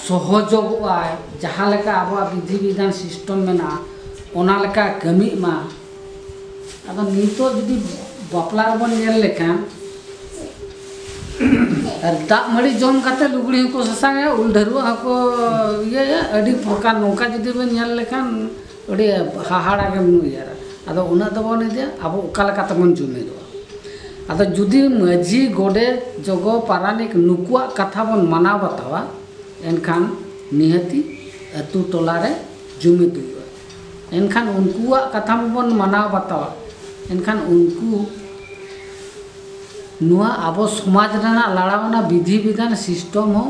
ᱥᱚᱦᱚᱡᱚᱜᱚᱜᱼᱟᱭ ᱡᱟᱦᱟᱸ ᱞᱮᱠᱟ ᱟᱵᱚᱣᱟᱜ ᱵᱤᱫᱷᱤ ᱵᱤᱫᱷᱟᱱ ᱥᱤᱥᱴᱚᱢ ᱢᱮᱱᱟᱜᱼᱟ ᱚᱱᱟ ᱞᱮᱠᱟ ᱠᱟᱹᱢᱤᱜ ᱢᱟ ᱟᱫᱚ ᱱᱤᱛᱚᱜ ᱡᱩᱫᱤ ᱵᱟᱯᱞᱟ ᱨᱮᱵᱚᱱ ᱧᱮᱞ ᱞᱮᱠᱷᱟᱱ ᱫᱟᱜ ᱢᱟᱹᱲᱤ ᱡᱚᱢ ᱠᱟᱛᱮ ᱞᱩᱜᱽᱲᱤ ᱦᱚᱸᱠᱚ ᱥᱟᱥᱟᱝᱟ ᱩᱞ ᱰᱷᱟᱹᱨᱣᱟᱹᱜ ᱦᱚᱸᱠᱚ ᱤᱭᱟᱹᱭᱟ ᱟᱹᱰᱤ ᱯᱨᱚᱠᱟᱨ ᱱᱚᱝᱠᱟ ᱡᱩᱫᱤ ᱵᱚᱱ ᱧᱮᱞ ᱞᱮᱠᱷᱟᱱ ᱟᱹᱰᱤ ᱦᱟᱦᱟᱲᱟ ᱜᱮᱢ ᱩᱭᱦᱟᱹᱨᱟ ᱟᱫᱚ ᱩᱱᱟᱹᱜ ᱫᱚ ᱵᱟᱵᱚᱱ ᱤᱫᱤᱭᱟ ᱟᱵᱚ ᱚᱠᱟ ᱞᱮᱠᱟ ᱛᱮᱵᱚᱱ ᱡᱩᱢᱤᱫᱚᱜᱼᱟ ᱟᱫᱚ ᱡᱩᱫᱤ ᱢᱟᱹᱡᱷᱤ ᱜᱚᱰᱮᱛ ᱡᱚᱜᱚ ᱯᱟᱨᱟᱱᱤᱠ ᱱᱩᱠᱩᱣᱟᱜ ᱠᱟᱛᱷᱟ ᱵᱚᱱ ᱢᱟᱱᱟᱣ ᱵᱟᱛᱟᱣᱟ ᱮᱱᱠᱷᱟᱱ ᱱᱤᱦᱟᱹᱛᱤ ᱟᱹᱛᱩ ᱴᱚᱞᱟ ᱨᱮ ᱡᱩᱢᱤᱫ ᱦᱩᱭᱩᱜᱼᱟ ᱮᱱᱠᱷᱟᱱ ᱩᱱᱠᱩᱣᱟᱜ ᱠᱟᱛᱷᱟ ᱢᱟᱵᱚᱱ ᱢᱟᱱᱟᱣ ᱵᱟᱛᱟᱣᱟ ᱮᱱᱠᱷᱟᱱ ᱩᱱᱠᱩ ᱱᱚᱣᱟ ᱟᱵᱚ ᱥᱚᱢᱟᱡᱽ ᱨᱮᱱᱟᱜ ᱞᱟᱲᱟᱣᱱᱟ ᱵᱤᱫᱷᱤ ᱵᱤᱫᱷᱟᱱ ᱥᱤᱥᱴᱚᱢ ᱦᱚᱸ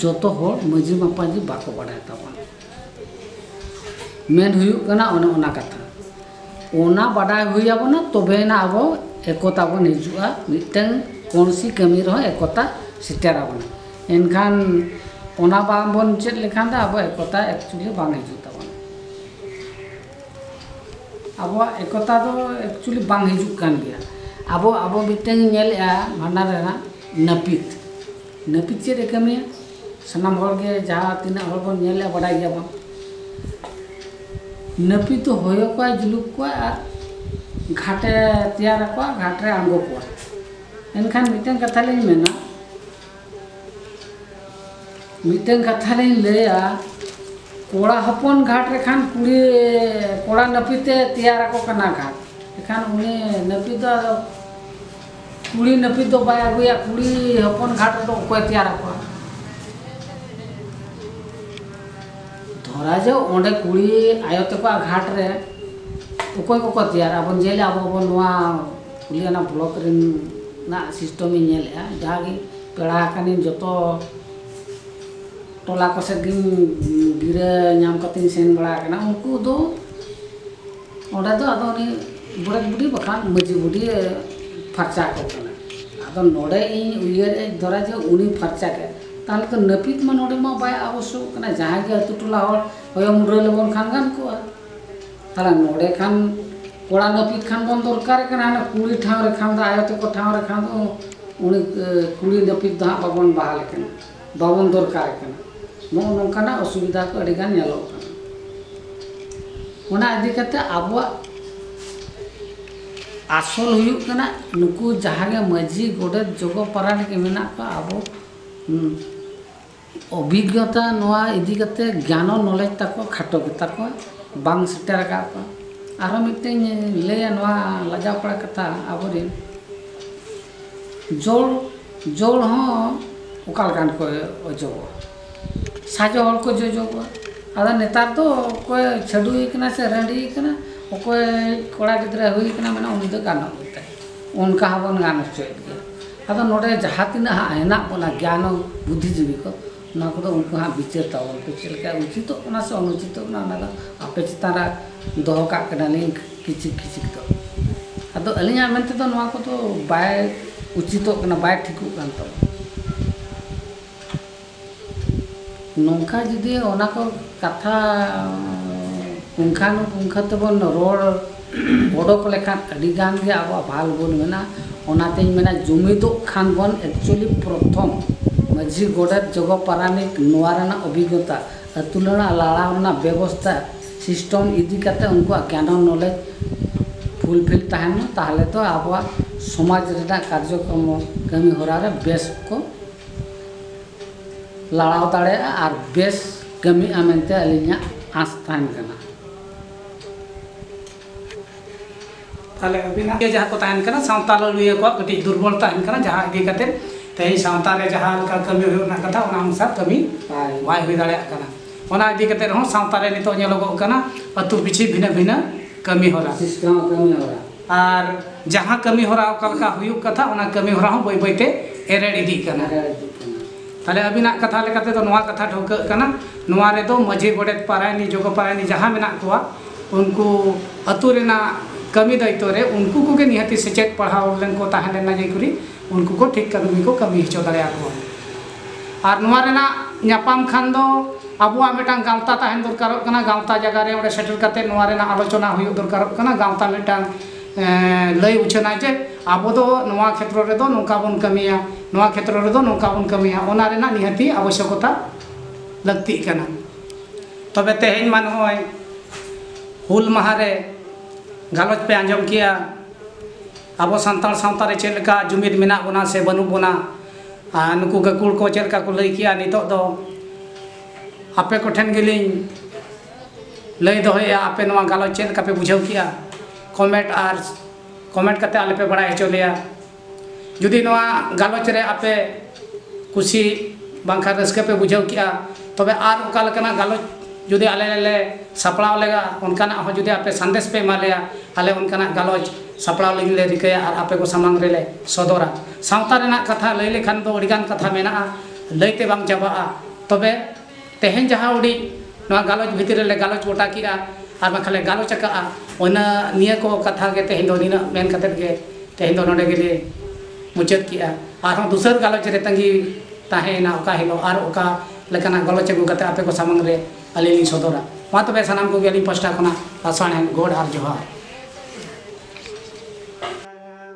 ᱡᱚᱛᱚ ᱦᱚᱲ ᱢᱟᱹᱡᱷᱤ ᱢᱟᱯᱟᱡᱷᱤ ᱵᱟᱠᱚ ᱵᱟᱰᱟᱭ ᱛᱟᱵᱚᱱᱟ ᱢᱮᱱ ᱦᱩᱭᱩᱜ ᱠᱟᱱᱟ ᱚᱱᱮ ᱚᱱᱟ ᱠᱟᱛᱷᱟ ᱚᱱᱟ ᱵᱟᱰᱟᱭ ᱦᱩᱭ ᱟᱵᱚᱱᱟ ᱛᱚᱵᱮᱭᱮᱱᱟ ᱟᱵᱚ ᱮᱠᱚᱛᱟ ᱵᱚᱱ ᱦᱤᱡᱩᱜᱼᱟ ᱢᱤᱫᱴᱟᱝ ᱠᱚᱱᱥᱤ ᱠᱟᱹᱢᱤ ᱨᱮᱦᱚᱸ ᱮᱠᱚᱛᱟ ᱥᱮᱴᱮᱨ ᱟᱵᱚᱱᱟ ᱮᱱᱠᱷᱟᱱ ᱚᱱᱟ ᱵᱟᱝ ᱵᱚᱱ ᱪᱮᱫ ᱞᱮᱠᱷᱟᱱ ᱫᱚ ᱟᱵᱚ ᱮᱠᱚᱛᱟ ᱮᱠᱪᱩᱭᱮᱞᱤ ᱵᱟᱝ ᱦᱤᱡᱩᱜ ᱛᱟᱵᱚᱱᱟ ᱟᱵᱚᱣᱟᱜ ᱮᱠᱚᱛᱟ ᱫᱚ ᱮᱠᱪᱩᱭᱮᱞᱤ ᱵᱟᱝ ᱦᱤᱡᱩᱜ ᱠᱟᱱ ᱜᱮᱭᱟ ᱟᱵᱚ ᱟᱵᱚ ᱢᱤᱫᱴᱟᱝ ᱧᱮᱞᱮᱜᱼᱟ ᱵᱷᱟᱸᱰᱟᱱ ᱨᱮᱱᱟᱜ ᱱᱟᱹᱯᱤᱛ ᱱᱟᱹᱯᱤᱛ ᱪᱮᱫ ᱮ ᱠᱟᱹᱢᱤᱭᱟ ᱥᱟᱱᱟᱢ ᱦᱚᱲ ᱜᱮ ᱡᱟᱦᱟᱸ ᱛᱤᱱᱟᱹᱜ ᱦᱚᱲ ᱵᱚᱱ ᱧᱮᱞᱮᱜᱼᱟ ᱵᱟᱰᱟᱭ ᱜᱮᱭᱟ ᱵᱚᱱ ᱱᱟᱹᱯᱤᱛ ᱫᱚ ᱦᱚᱭᱚ ᱠᱚᱣᱟᱭ ᱡᱩᱞᱩᱯ ᱠᱚᱣᱟᱭ ᱟᱨ ᱜᱷᱟᱴᱮ ᱛᱮᱭᱟᱨ ᱟᱠᱚᱣᱟ ᱜᱷᱟᱴ ᱨᱮ ᱟᱬᱜᱚ ᱠᱚᱣᱟᱭ ᱮᱱᱠᱷᱟᱱ ᱢᱤᱫᱴᱟᱝ ᱠᱟᱛᱷᱟ ᱞᱤᱧ ᱢᱮᱱᱟ ᱢᱤᱫᱴᱮᱱ ᱠᱟᱛᱷᱟ ᱞᱤᱧ ᱞᱟᱹᱭᱟ ᱠᱚᱲᱟ ᱦᱚᱯᱚᱱ ᱜᱷᱟᱴ ᱨᱮᱠᱷᱟᱱ ᱠᱩᱲᱤ ᱠᱚᱲᱟ ᱱᱟᱹᱯᱤᱛᱮ ᱛᱮᱭᱟᱨ ᱟᱠᱚ ᱠᱟᱱᱟ ᱜᱷᱟᱴ ᱮᱠᱷᱟᱱ ᱩᱱᱤ ᱱᱟᱹᱯᱤᱛ ᱫᱚ ᱟᱫᱚ ᱠᱩᱲᱤ ᱱᱟᱹᱯᱤᱛ ᱫᱚ ᱵᱟᱭ ᱟᱹᱜᱩᱭᱟ ᱠᱩᱲᱤ ᱦᱚᱯᱚᱱ ᱜᱷᱟᱴ ᱨᱮᱫᱚ ᱚᱠᱚᱭ ᱛᱮᱭᱟᱨ ᱟᱠᱚᱣᱟ ᱫᱷᱚᱨᱟ ᱡᱮ ᱚᱸᱰᱮ ᱠᱩᱲᱤ ᱟᱭᱳ ᱛᱟᱠᱚᱣᱟᱜ ᱜᱷᱟᱴ ᱨᱮ ᱚᱠᱚᱭ ᱠᱚᱠᱚ ᱛᱮᱭᱟᱨᱟ ᱵᱚᱱ ᱧᱮᱞᱟ ᱟᱵᱚ ᱵᱚᱱ ᱱᱚᱣᱟ ᱠᱩᱲᱤ ᱟᱱᱟ ᱵᱞᱚᱠ ᱨᱮᱱᱟᱜ ᱥᱤᱥᱴᱚᱢ ᱤᱧ ᱧᱮᱞᱮᱜᱼᱟ ᱡᱟᱦᱟᱸ ᱜᱮ ᱯᱮᱲᱟ ᱟᱠᱟᱱᱤᱧ ᱡᱚᱛᱚ ᱴᱚᱞᱟ ᱠᱚ ᱥᱮᱫ ᱜᱤᱧ ᱜᱤᱨᱟᱹ ᱧᱟᱢ ᱠᱟᱛᱮᱧ ᱥᱮᱱ ᱵᱟᱲᱟ ᱟᱠᱟᱱᱟ ᱩᱱᱠᱩ ᱫᱚ ᱚᱸᱰᱮ ᱫᱚ ᱟᱫᱚ ᱩᱱᱤ ᱜᱚᱰᱮᱛ ᱵᱩᱰᱷᱤ ᱵᱟᱠᱷᱟᱱ ᱢᱟᱹᱡᱷᱤ ᱵᱩᱰᱷᱤ ᱯᱷᱟᱨᱪᱟ ᱠᱚ ᱠᱟᱱᱟ ᱟᱫᱚ ᱱᱚᱰᱮ ᱤᱧ ᱩᱭᱦᱟᱹᱨᱮᱜᱼᱟ ᱫᱷᱚᱨᱟ ᱡᱮ ᱩᱱᱤ ᱯᱷᱟᱨᱪᱟ ᱠᱮᱫ ᱛᱟᱦᱚᱞᱮ ᱛᱚ ᱱᱟᱹᱯᱤᱛ ᱢᱟ ᱱᱚᱰᱮ ᱢᱟ ᱵᱟᱭ ᱟᱵᱚᱥᱥᱚᱠ ᱠᱟᱱᱟ ᱡᱟᱦᱟᱸᱭ ᱜᱮ ᱟᱛᱳ ᱴᱚᱞᱟ ᱦᱚᱲ ᱦᱚᱭᱚ ᱢᱩᱰᱨᱟᱹ ᱞᱮᱵᱚᱱ ᱠᱷᱟᱱ ᱜᱟᱱ ᱠᱚᱜᱼᱟ ᱛᱟᱦᱚᱞᱮ ᱱᱚᱰᱮ ᱠᱷᱟᱱ ᱠᱚᱲᱟ ᱱᱟᱹᱯᱤᱛ ᱠᱷᱟᱱ ᱵᱚᱱ ᱫᱚᱨᱠᱟᱨᱮ ᱠᱟᱱᱟ ᱦᱟᱱᱮ ᱠᱩᱲᱤ ᱴᱷᱟᱶ ᱨᱮ ᱠᱷᱟᱱ ᱫᱚ ᱟᱭᱳ ᱛᱮᱠᱚ ᱴᱷᱟᱶ ᱨᱮ ᱠᱷᱟᱱ ᱫᱚ ᱩᱱᱤ ᱠᱩᱲᱤ ᱱᱟᱹᱯᱤᱛ ᱫᱚ ᱦᱟᱸᱜ ᱵᱟᱵᱚᱱ ᱵᱟᱦᱟᱞᱮ ᱠᱟᱱᱟ ᱵᱟᱵᱚᱱ ᱫᱚᱨᱠᱟᱨᱮ ᱠᱟᱱᱟ ᱱᱚᱜᱼᱚ ᱱᱚᱝᱠᱟᱱᱟᱜ ᱚᱥᱩᱵᱤᱫᱷᱟ ᱠᱚ ᱟᱹᱰᱤ ᱜᱟᱱ ᱧᱮᱞᱚᱜ ᱠᱟᱱᱟ ᱚᱱᱟ ᱤᱫᱤ ᱠᱟᱛᱮ ᱟᱵᱚᱣᱟᱜ ᱟᱥᱚᱞ ᱦᱩᱭᱩᱜ ᱠᱟᱱᱟ ᱱᱩᱠᱩ ᱡᱟᱦᱟᱸ ᱜᱮ ᱢᱟᱹᱡᱷᱤ ᱜᱚᱰᱮᱛ ᱡᱚᱜᱚ ᱯᱟᱨᱟᱱᱤᱠ ᱢᱮᱱᱟᱜ ᱠᱚᱣᱟ ᱟᱵᱚ ᱚᱵᱷᱤᱜᱽᱜᱚᱛᱟ ᱱᱚᱣᱟ ᱤᱫᱤ ᱠᱟᱛᱮ ᱜᱮᱭᱟᱱ ᱟᱨ ᱱᱚᱞᱮᱡᱽ ᱛᱟᱠᱚ ᱠᱷᱟᱴᱚ ᱜᱮᱛᱟ ᱠᱚᱣᱟ ᱵᱟᱝ ᱥᱮᱴᱮᱨ ᱟᱠᱟᱫ ᱠᱚᱣᱟ ᱟᱨᱦᱚᱸ ᱢᱤᱫᱴᱮᱱ ᱤᱧ ᱞᱟᱹᱭᱟ ᱱᱚᱣᱟ ᱞᱟᱡᱟᱣ ᱯᱟᱲᱟ ᱠᱟᱛᱷᱟ ᱟᱵᱚ ᱨᱮᱱ ᱡᱚᱲ ᱡᱚᱲ ᱦᱚᱸ ᱚᱠᱟ ᱞᱮᱠᱟᱱ ᱠᱚ ᱚᱡᱚᱜᱚᱜᱼᱟ ᱥᱟᱡᱚ ᱦᱚᱲ ᱠᱚ ᱡᱚᱡᱚᱜᱚᱜᱼᱟ ᱟᱫᱚ ᱱᱮᱛᱟᱨ ᱫᱚ ᱚᱠᱚᱭ ᱪᱷᱟᱹᱰᱣᱤ ᱠᱟᱱᱟᱭ ᱥᱮ ᱨᱟᱺᱰᱤ ᱠᱟᱱᱟᱭ ᱚᱠᱚᱭ ᱠᱚᱲᱟ ᱜᱤᱫᱽᱨᱟᱹ ᱦᱩᱭ ᱠᱟᱱᱟᱭ ᱢᱟᱱᱮ ᱩᱱᱤ ᱫᱚ ᱜᱟᱱᱚᱜ ᱜᱮᱛᱟᱭᱟ ᱚᱱᱠᱟ ᱦᱚᱸᱵᱚᱱ ᱜᱟᱱ ᱦᱚᱪᱚᱭᱮᱫ ᱜᱮᱭᱟ ᱟᱫᱚ ᱱᱚᱰᱮ ᱡᱟᱦᱟᱸ ᱛᱤᱱᱟᱹᱜ ᱦᱟᱸᱜ ᱦᱮᱱᱟᱜ ᱵᱚᱱᱟ ᱜᱮᱭᱟᱱᱚ ᱵᱩᱫᱽᱫᱷᱤᱡᱤᱵᱤ ᱠᱚ ᱚᱱᱟ ᱠᱚᱫᱚ ᱩᱱᱠᱩ ᱦᱟᱸᱜ ᱵᱤᱪᱟᱹᱨ ᱛᱟᱵᱚᱱ ᱯᱮ ᱪᱮᱫ ᱞᱮᱠᱟ ᱩᱪᱤᱛᱚᱜ ᱠᱟᱱᱟ ᱥᱮ ᱚᱱᱩᱪᱤᱛᱚᱜ ᱠᱟᱱᱟ ᱚᱱᱟ ᱫᱚ ᱟᱯᱮ ᱪᱮᱛᱟᱱ ᱨᱮ ᱫᱚᱦᱚ ᱠᱟᱜ ᱠᱟᱱᱟᱞᱤᱧ ᱠᱤᱪᱷᱤᱠ ᱠᱤᱪᱷᱤᱠ ᱫᱚ ᱟᱫᱚ ᱟᱹᱞᱤᱧᱟᱜ ᱢᱮᱱ ᱛᱮᱫᱚ ᱱᱚᱣᱟ ᱠᱚᱫᱚ ᱵᱟᱭ ᱩᱪᱤᱛᱚᱜ ᱠᱟᱱᱟ ᱵᱟᱭ ᱴᱷᱤᱠᱚᱜ ᱠᱟᱱ ᱛᱟᱵᱚᱱᱟ ᱱᱚᱝᱠᱟ ᱡᱩᱫᱤ ᱚᱱᱟ ᱠᱚ ᱠᱟᱛᱷᱟ ᱯᱩᱝᱠᱷᱟᱱᱩᱯᱩᱝᱠᱷᱚ ᱛᱮᱵᱚᱱ ᱨᱚᱲ ᱚᱰᱚᱠ ᱞᱮᱠᱷᱟᱱ ᱟᱹᱰᱤ ᱜᱟᱱ ᱜᱮ ᱟᱵᱚᱣᱟᱜ ᱵᱷᱟᱞ ᱜᱩᱱ ᱢᱮᱱᱟᱜᱼᱟ ᱚᱱᱟᱛᱤᱧ ᱢᱮᱱᱟ ᱡᱩᱢᱤᱫᱚᱜ ᱠᱷᱟᱱ ᱵᱚᱱ ᱮᱠᱪᱩᱭᱮᱞᱤ ᱯᱨᱚᱛᱷᱚᱢ ᱢᱟᱹᱡᱷᱤ ᱜᱚᱰᱮᱛ ᱡᱚᱜᱚ ᱯᱟᱨᱟᱱᱤᱠ ᱱᱚᱣᱟ ᱨᱮᱱᱟᱜ ᱚᱵᱷᱤᱜᱽᱜᱚᱛᱟ ᱟᱹᱛᱩ ᱨᱮᱱᱟᱜ ᱞᱟᱲᱟᱣ ᱨᱮᱱᱟᱜ ᱵᱮᱵᱚᱥᱛᱷᱟ ᱥᱤᱥᱴᱮᱢ ᱤᱫᱤ ᱠᱟᱛᱮᱫ ᱩᱱᱠᱩᱣᱟᱜ ᱜᱮᱭᱟᱱᱚ ᱱᱚᱞᱮᱡᱽ ᱯᱷᱩᱞᱯᱷᱤᱞ ᱛᱟᱦᱮᱱ ᱢᱟ ᱛᱟᱦᱚᱞᱮ ᱛᱚ ᱟᱵᱚᱣᱟᱜ ᱥᱚᱢᱟᱡᱽ ᱨᱮᱱᱟᱜ ᱠᱟᱨᱡᱚᱠᱨᱚᱢ ᱠᱟᱹᱢᱤᱦᱚᱨᱟ ᱨᱮ ᱵᱮᱥ ᱠᱚ ᱞᱟᱲᱟᱣ ᱫᱟᱲᱮᱭᱟᱜᱼᱟ ᱟᱨ ᱵᱮᱥ ᱠᱟᱹᱢᱤᱜᱼᱟ ᱢᱮᱱᱛᱮ ᱟᱹᱞᱤᱧᱟᱜ ᱟᱸᱥ ᱛᱟᱦᱮᱱ ᱠᱟᱱᱟ ᱛᱟᱦᱚᱞᱮ ᱟᱹᱵᱤᱱᱟᱜ ᱜᱮ ᱡᱟᱦᱟᱸ ᱠᱚ ᱛᱟᱦᱮᱱ ᱠᱟᱱᱟ ᱥᱟᱶᱛᱟ ᱞᱟᱹᱲᱦᱟᱹᱭᱟᱹ ᱠᱚᱣᱟᱜ ᱠᱟᱹᱴᱤᱡ ᱫᱩᱨᱵᱚᱞ ᱛᱟᱦᱮᱱ ᱠᱟᱱᱟ ᱡᱟᱦᱟᱸ ᱤᱫᱤ ᱠᱟᱛᱮ ᱛᱮᱦᱮᱧ ᱥᱟᱶᱛᱟ ᱨᱮ ᱡᱟᱦᱟᱸ ᱞᱮᱠᱟ ᱠᱟᱹᱢᱤ ᱦᱩᱭᱩᱜ ᱨᱮᱱᱟᱜ ᱠᱟᱛᱷᱟ ᱚᱱᱟ ᱚᱱᱩᱥᱟᱨ ᱠᱟᱹᱢᱤ ᱵᱟᱭ ᱦᱩᱭ ᱫᱟᱲᱮᱭᱟᱜ ᱠᱟᱱᱟ ᱚᱱᱟ ᱤᱫᱤ ᱠᱟᱛᱮ ᱨᱮᱦᱚᱸ ᱥᱟᱶᱛᱟ ᱨᱮ ᱱᱤᱛᱚᱜ ᱧᱮᱞᱚᱜᱚᱜ ᱠᱟᱱᱟ ᱟᱹᱛᱩ ᱯᱤᱪᱷᱤ ᱵᱷᱤᱱᱟᱹ ᱵᱷᱤᱱᱟᱹ ᱠᱟᱹᱢᱤ ᱦᱚᱨᱟ ᱠᱟᱹᱢᱤ ᱦᱚᱨᱟ ᱟᱨ ᱡᱟᱦᱟᱸ ᱠᱟᱹᱢᱤ ᱦᱚᱨᱟ ᱚᱠᱟ ᱞᱮᱠᱟ ᱦᱩᱭᱩᱜ ᱠᱟᱛᱷᱟ ᱚᱱᱟ ᱠᱟᱹᱢᱤ ᱦᱚᱨᱟ ᱦᱚᱸ ᱵᱟᱹᱭ ᱵᱟᱹᱭ ᱛᱮ ᱮᱨᱮᱲ ᱤᱫᱤᱜ ᱠᱟᱱᱟ ᱛᱟᱦᱞᱮ ᱟᱹᱵᱤᱱᱟᱜ ᱠᱟᱛᱷᱟ ᱞᱮᱠᱟ ᱛᱮᱫᱚ ᱱᱚᱣᱟ ᱠᱟᱛᱷᱟ ᱴᱷᱟᱹᱣᱠᱟᱹᱜ ᱠᱟᱱᱟ ᱱᱚᱣᱟ ᱨᱮᱫᱚ ᱢᱟᱹᱡᱷᱤ ᱜᱚᱰᱮᱛ ᱯᱟᱨᱟᱭᱱᱤ ᱡᱚᱜᱚ ᱯᱟᱨᱟᱭᱱᱤ ᱡᱟᱦᱟᱸ ᱢᱮᱱᱟᱜ ᱠᱚᱣᱟ ᱩᱱᱠᱩ ᱟᱹᱛᱩ ᱨᱮᱱᱟᱜ ᱠᱟᱹᱢᱤ ᱫᱟᱭᱤᱛᱛᱚ ᱨᱮ ᱩᱱᱠᱩ ᱠᱚᱜᱮ ᱱᱤᱦᱟᱹᱛᱤ ᱥᱮᱪᱮᱫ ᱯᱟᱲᱦᱟᱣ ᱞᱮᱱ ᱠᱚ ᱛᱟᱦᱮᱸ ᱞᱮᱱᱟ ᱡᱮ ᱠᱚᱨᱮ ᱩᱱᱠᱩ ᱠᱚ ᱴᱷᱤᱠ ᱠᱟᱹᱢᱤ ᱠᱚ ᱠᱟᱹᱢᱤ ᱦᱚᱪᱚ ᱫᱟᱲᱮᱭᱟᱠᱚᱣᱟ ᱟᱨ ᱱᱚᱣᱟ ᱨᱮᱱᱟᱜ ᱧᱟᱯᱟᱢ ᱠᱷᱟᱱ ᱫᱚ ᱟᱵᱚᱣᱟᱜ ᱢᱤᱫᱴᱟᱝ ᱜᱟᱶᱛᱟ ᱛᱟᱦᱮᱱ ᱫᱚᱨᱠᱟᱨᱚᱜ ᱠᱟᱱᱟ ᱜᱟᱶᱛᱟ ᱡᱟᱭᱜᱟ ᱨᱮ ᱚᱸᱰᱮ ᱥᱮᱴᱮᱨ ᱠᱟᱛᱮ ᱱᱚᱣᱟ ᱨᱮᱱᱟᱜ ᱟᱞᱳᱪᱚᱱᱟ ᱦᱩᱭᱩᱜ ᱫᱚᱨᱠᱟᱨᱚᱜ ᱠᱟᱱᱟ ᱜᱟᱶᱛᱟ ᱢᱤᱫᱴᱟᱝ ᱞᱟᱹᱭ ᱩᱪᱷᱟᱹᱱᱟ ᱡᱮ ᱟᱵᱚ ᱫᱚ ᱱᱚᱣᱟ ᱠᱷᱮᱛᱨᱚ ᱨᱮᱫᱚ ᱱᱚᱝᱠᱟ ᱵᱚᱱ ᱠᱟᱹᱢᱤᱭᱟ ᱱᱚᱣᱟ ᱠᱷᱮᱛᱨᱚ ᱨᱮᱫᱚ ᱱᱚᱝᱠᱟ ᱵᱚᱱ ᱠᱟᱹᱢᱤᱭᱟ ᱚᱱᱟ ᱨᱮᱱᱟᱜ ᱱᱤᱦᱟᱹᱛᱤ ᱟᱵᱚᱥᱥᱚᱠᱚᱛᱟ ᱞᱟᱹᱠᱛᱤᱜ ᱠᱟᱱᱟ ᱛᱚᱵᱮ ᱛᱮᱦᱮᱧ ᱢᱟ ᱱᱚᱜᱼᱚᱭ ᱦᱩᱞ ᱢᱟᱦᱟ ᱨᱮ ᱜᱟᱞᱚᱪ ᱯᱮ ᱟᱸᱡᱚᱢ ᱠᱮᱜᱼᱟ ᱟᱵᱚ ᱥᱟᱱᱛᱟᱲ ᱥᱟᱶᱛᱟ ᱨᱮ ᱪᱮᱫ ᱞᱮᱠᱟ ᱡᱩᱢᱤᱫ ᱢᱮᱱᱟᱜ ᱵᱚᱱᱟ ᱥᱮ ᱵᱟᱹᱱᱩᱜ ᱵᱚᱱᱟ ᱟᱨ ᱱᱩᱠᱩ ᱜᱟᱹᱠᱷᱩᱲ ᱠᱚ ᱪᱮᱫ ᱞᱮᱠᱟ ᱠᱚ ᱞᱟᱹᱭ ᱠᱮᱜᱼᱟ ᱱᱤᱛᱚᱜ ᱫᱚ ᱟᱯᱮ ᱠᱚᱴᱷᱮᱱ ᱜᱮᱞᱤᱧ ᱞᱟᱹᱭ ᱫᱚᱦᱚᱭᱮᱜᱼᱟ ᱟᱯᱮ ᱱᱚᱣᱟ ᱜᱟᱞᱚᱪ ᱪᱮᱫ ᱞᱮᱠᱟ ᱯᱮ ᱵᱩᱡᱷᱟᱹᱣ ᱠᱮᱜᱼᱟ ᱠᱚᱢᱮᱱᱴ ᱟᱨ ᱠᱚᱢᱮᱱᱴ ᱠᱟᱛᱮᱫ ᱟᱞᱮ ᱯᱮ ᱵᱟᱲᱟᱭ ᱦᱚᱪᱚ ᱞᱮᱭᱟ ᱡᱩᱫᱤ ᱱᱚᱣᱟ ᱜᱟᱞᱚᱪ ᱨᱮ ᱟᱯᱮ ᱠᱩᱥᱤ ᱵᱟᱝᱠᱷᱟᱱ ᱨᱟᱹᱥᱠᱟᱹ ᱯᱮ ᱵᱩᱡᱷᱟᱹᱣ ᱠᱮᱜᱼᱟ ᱛᱚᱵᱮ ᱟᱨ ᱚᱠᱟ ᱞᱮᱠᱟᱱᱟᱜ ᱜᱟᱞᱚᱪ ᱡᱩᱫᱤ ᱟᱞᱮ ᱞᱮ ᱥᱟᱯᱲᱟᱣ ᱞᱮᱜᱟ ᱚᱱᱠᱟᱱᱟᱜ ᱦᱚᱸ ᱡᱩᱫᱤ ᱟᱯᱮ ᱥᱟᱸᱫᱮᱥ ᱯᱮ ᱮᱢᱟ ᱞᱮᱭᱟ ᱟᱞᱮ ᱚᱱᱠᱟᱱᱟᱜ ᱜᱟᱞᱚᱪ ᱥᱟᱯᱲᱟᱣ ᱞᱟᱹᱜᱤᱫ ᱞᱮ ᱨᱤᱠᱟᱹᱭᱟ ᱟᱨ ᱟᱯᱮ ᱠᱚ ᱥᱟᱢᱟᱝ ᱨᱮᱞᱮ ᱥᱚᱫᱚᱨᱟ ᱥᱟᱶᱛᱟ ᱨᱮᱱᱟᱜ ᱠᱟᱛᱷᱟ ᱞᱟᱹᱭ ᱞᱮᱠᱷᱟᱱ ᱫᱚ ᱟᱹᱰᱤ ᱜᱟᱱ ᱠᱟᱛᱷᱟ ᱢᱮᱱᱟᱜᱼᱟ ᱞᱟᱹᱭ ᱛᱮ ᱵᱟᱝ ᱪᱟᱵᱟᱜᱼᱟ ᱛᱚᱵᱮ ᱛᱮᱦᱮᱧ ᱡᱟᱦᱟᱸ ᱩᱰᱤᱡ ᱱᱚᱣᱟ ᱜᱟᱞᱚᱪ ᱵᱷᱤᱛᱤᱨ ᱨᱮᱞᱮ ᱜᱟᱞᱚᱪ ᱜᱚᱴᱟ ᱠᱮᱫᱼᱟ ᱟᱨ ᱵᱟᱝᱠᱷᱟᱱ ᱞᱮ ᱜᱟᱞᱚᱪ ᱟᱠᱟᱫᱼᱟ ᱚᱱᱟ ᱱᱤᱭᱟᱹ ᱠᱚ ᱠᱟᱛᱷᱟ ᱜᱮ ᱛᱮᱦᱮᱧ ᱫᱚ ᱱᱤᱱᱟᱹᱜ ᱢᱮᱱ ᱠᱟᱛᱮᱫ ᱜᱮ ᱛᱮᱦᱮᱧ ᱫᱚ ᱱᱚᱰᱮ ᱜᱮᱞᱮ ᱢᱩᱪᱟᱹᱫ ᱠᱮᱫᱼᱟ ᱟᱨᱦᱚᱸ ᱫᱩᱥᱟᱹᱨ ᱜᱟᱞᱚᱪ ᱨᱮ ᱛᱟᱺᱜᱤ ᱛᱟᱦᱮᱸᱭᱮᱱᱟ ᱚᱠᱟ ᱦᱤᱞᱳᱜ ᱟᱨ ᱚᱠᱟ ᱞᱮᱠᱟᱱᱟᱜ ᱜᱟᱞᱚᱪ ᱟᱹᱜᱩ ᱠᱟᱛᱮᱫ ᱟᱯᱮ ᱠᱚ ᱥᱟᱢᱟᱝ ᱨᱮ ᱟᱹᱞᱤᱧ ᱞᱤᱧ ᱥᱚᱫᱚᱨᱟ ᱢᱟ ᱛᱚᱵᱮ ᱥᱟᱱᱟᱢ ᱠᱚᱜᱮ ᱟᱹᱞᱤᱧ ᱯᱟᱥᱴᱟ ᱠᱷᱚᱱᱟᱜ ᱞᱟᱥᱟᱬᱦᱮᱫ ᱜᱚᱰ ᱟᱨ ᱡᱚᱦᱟᱨ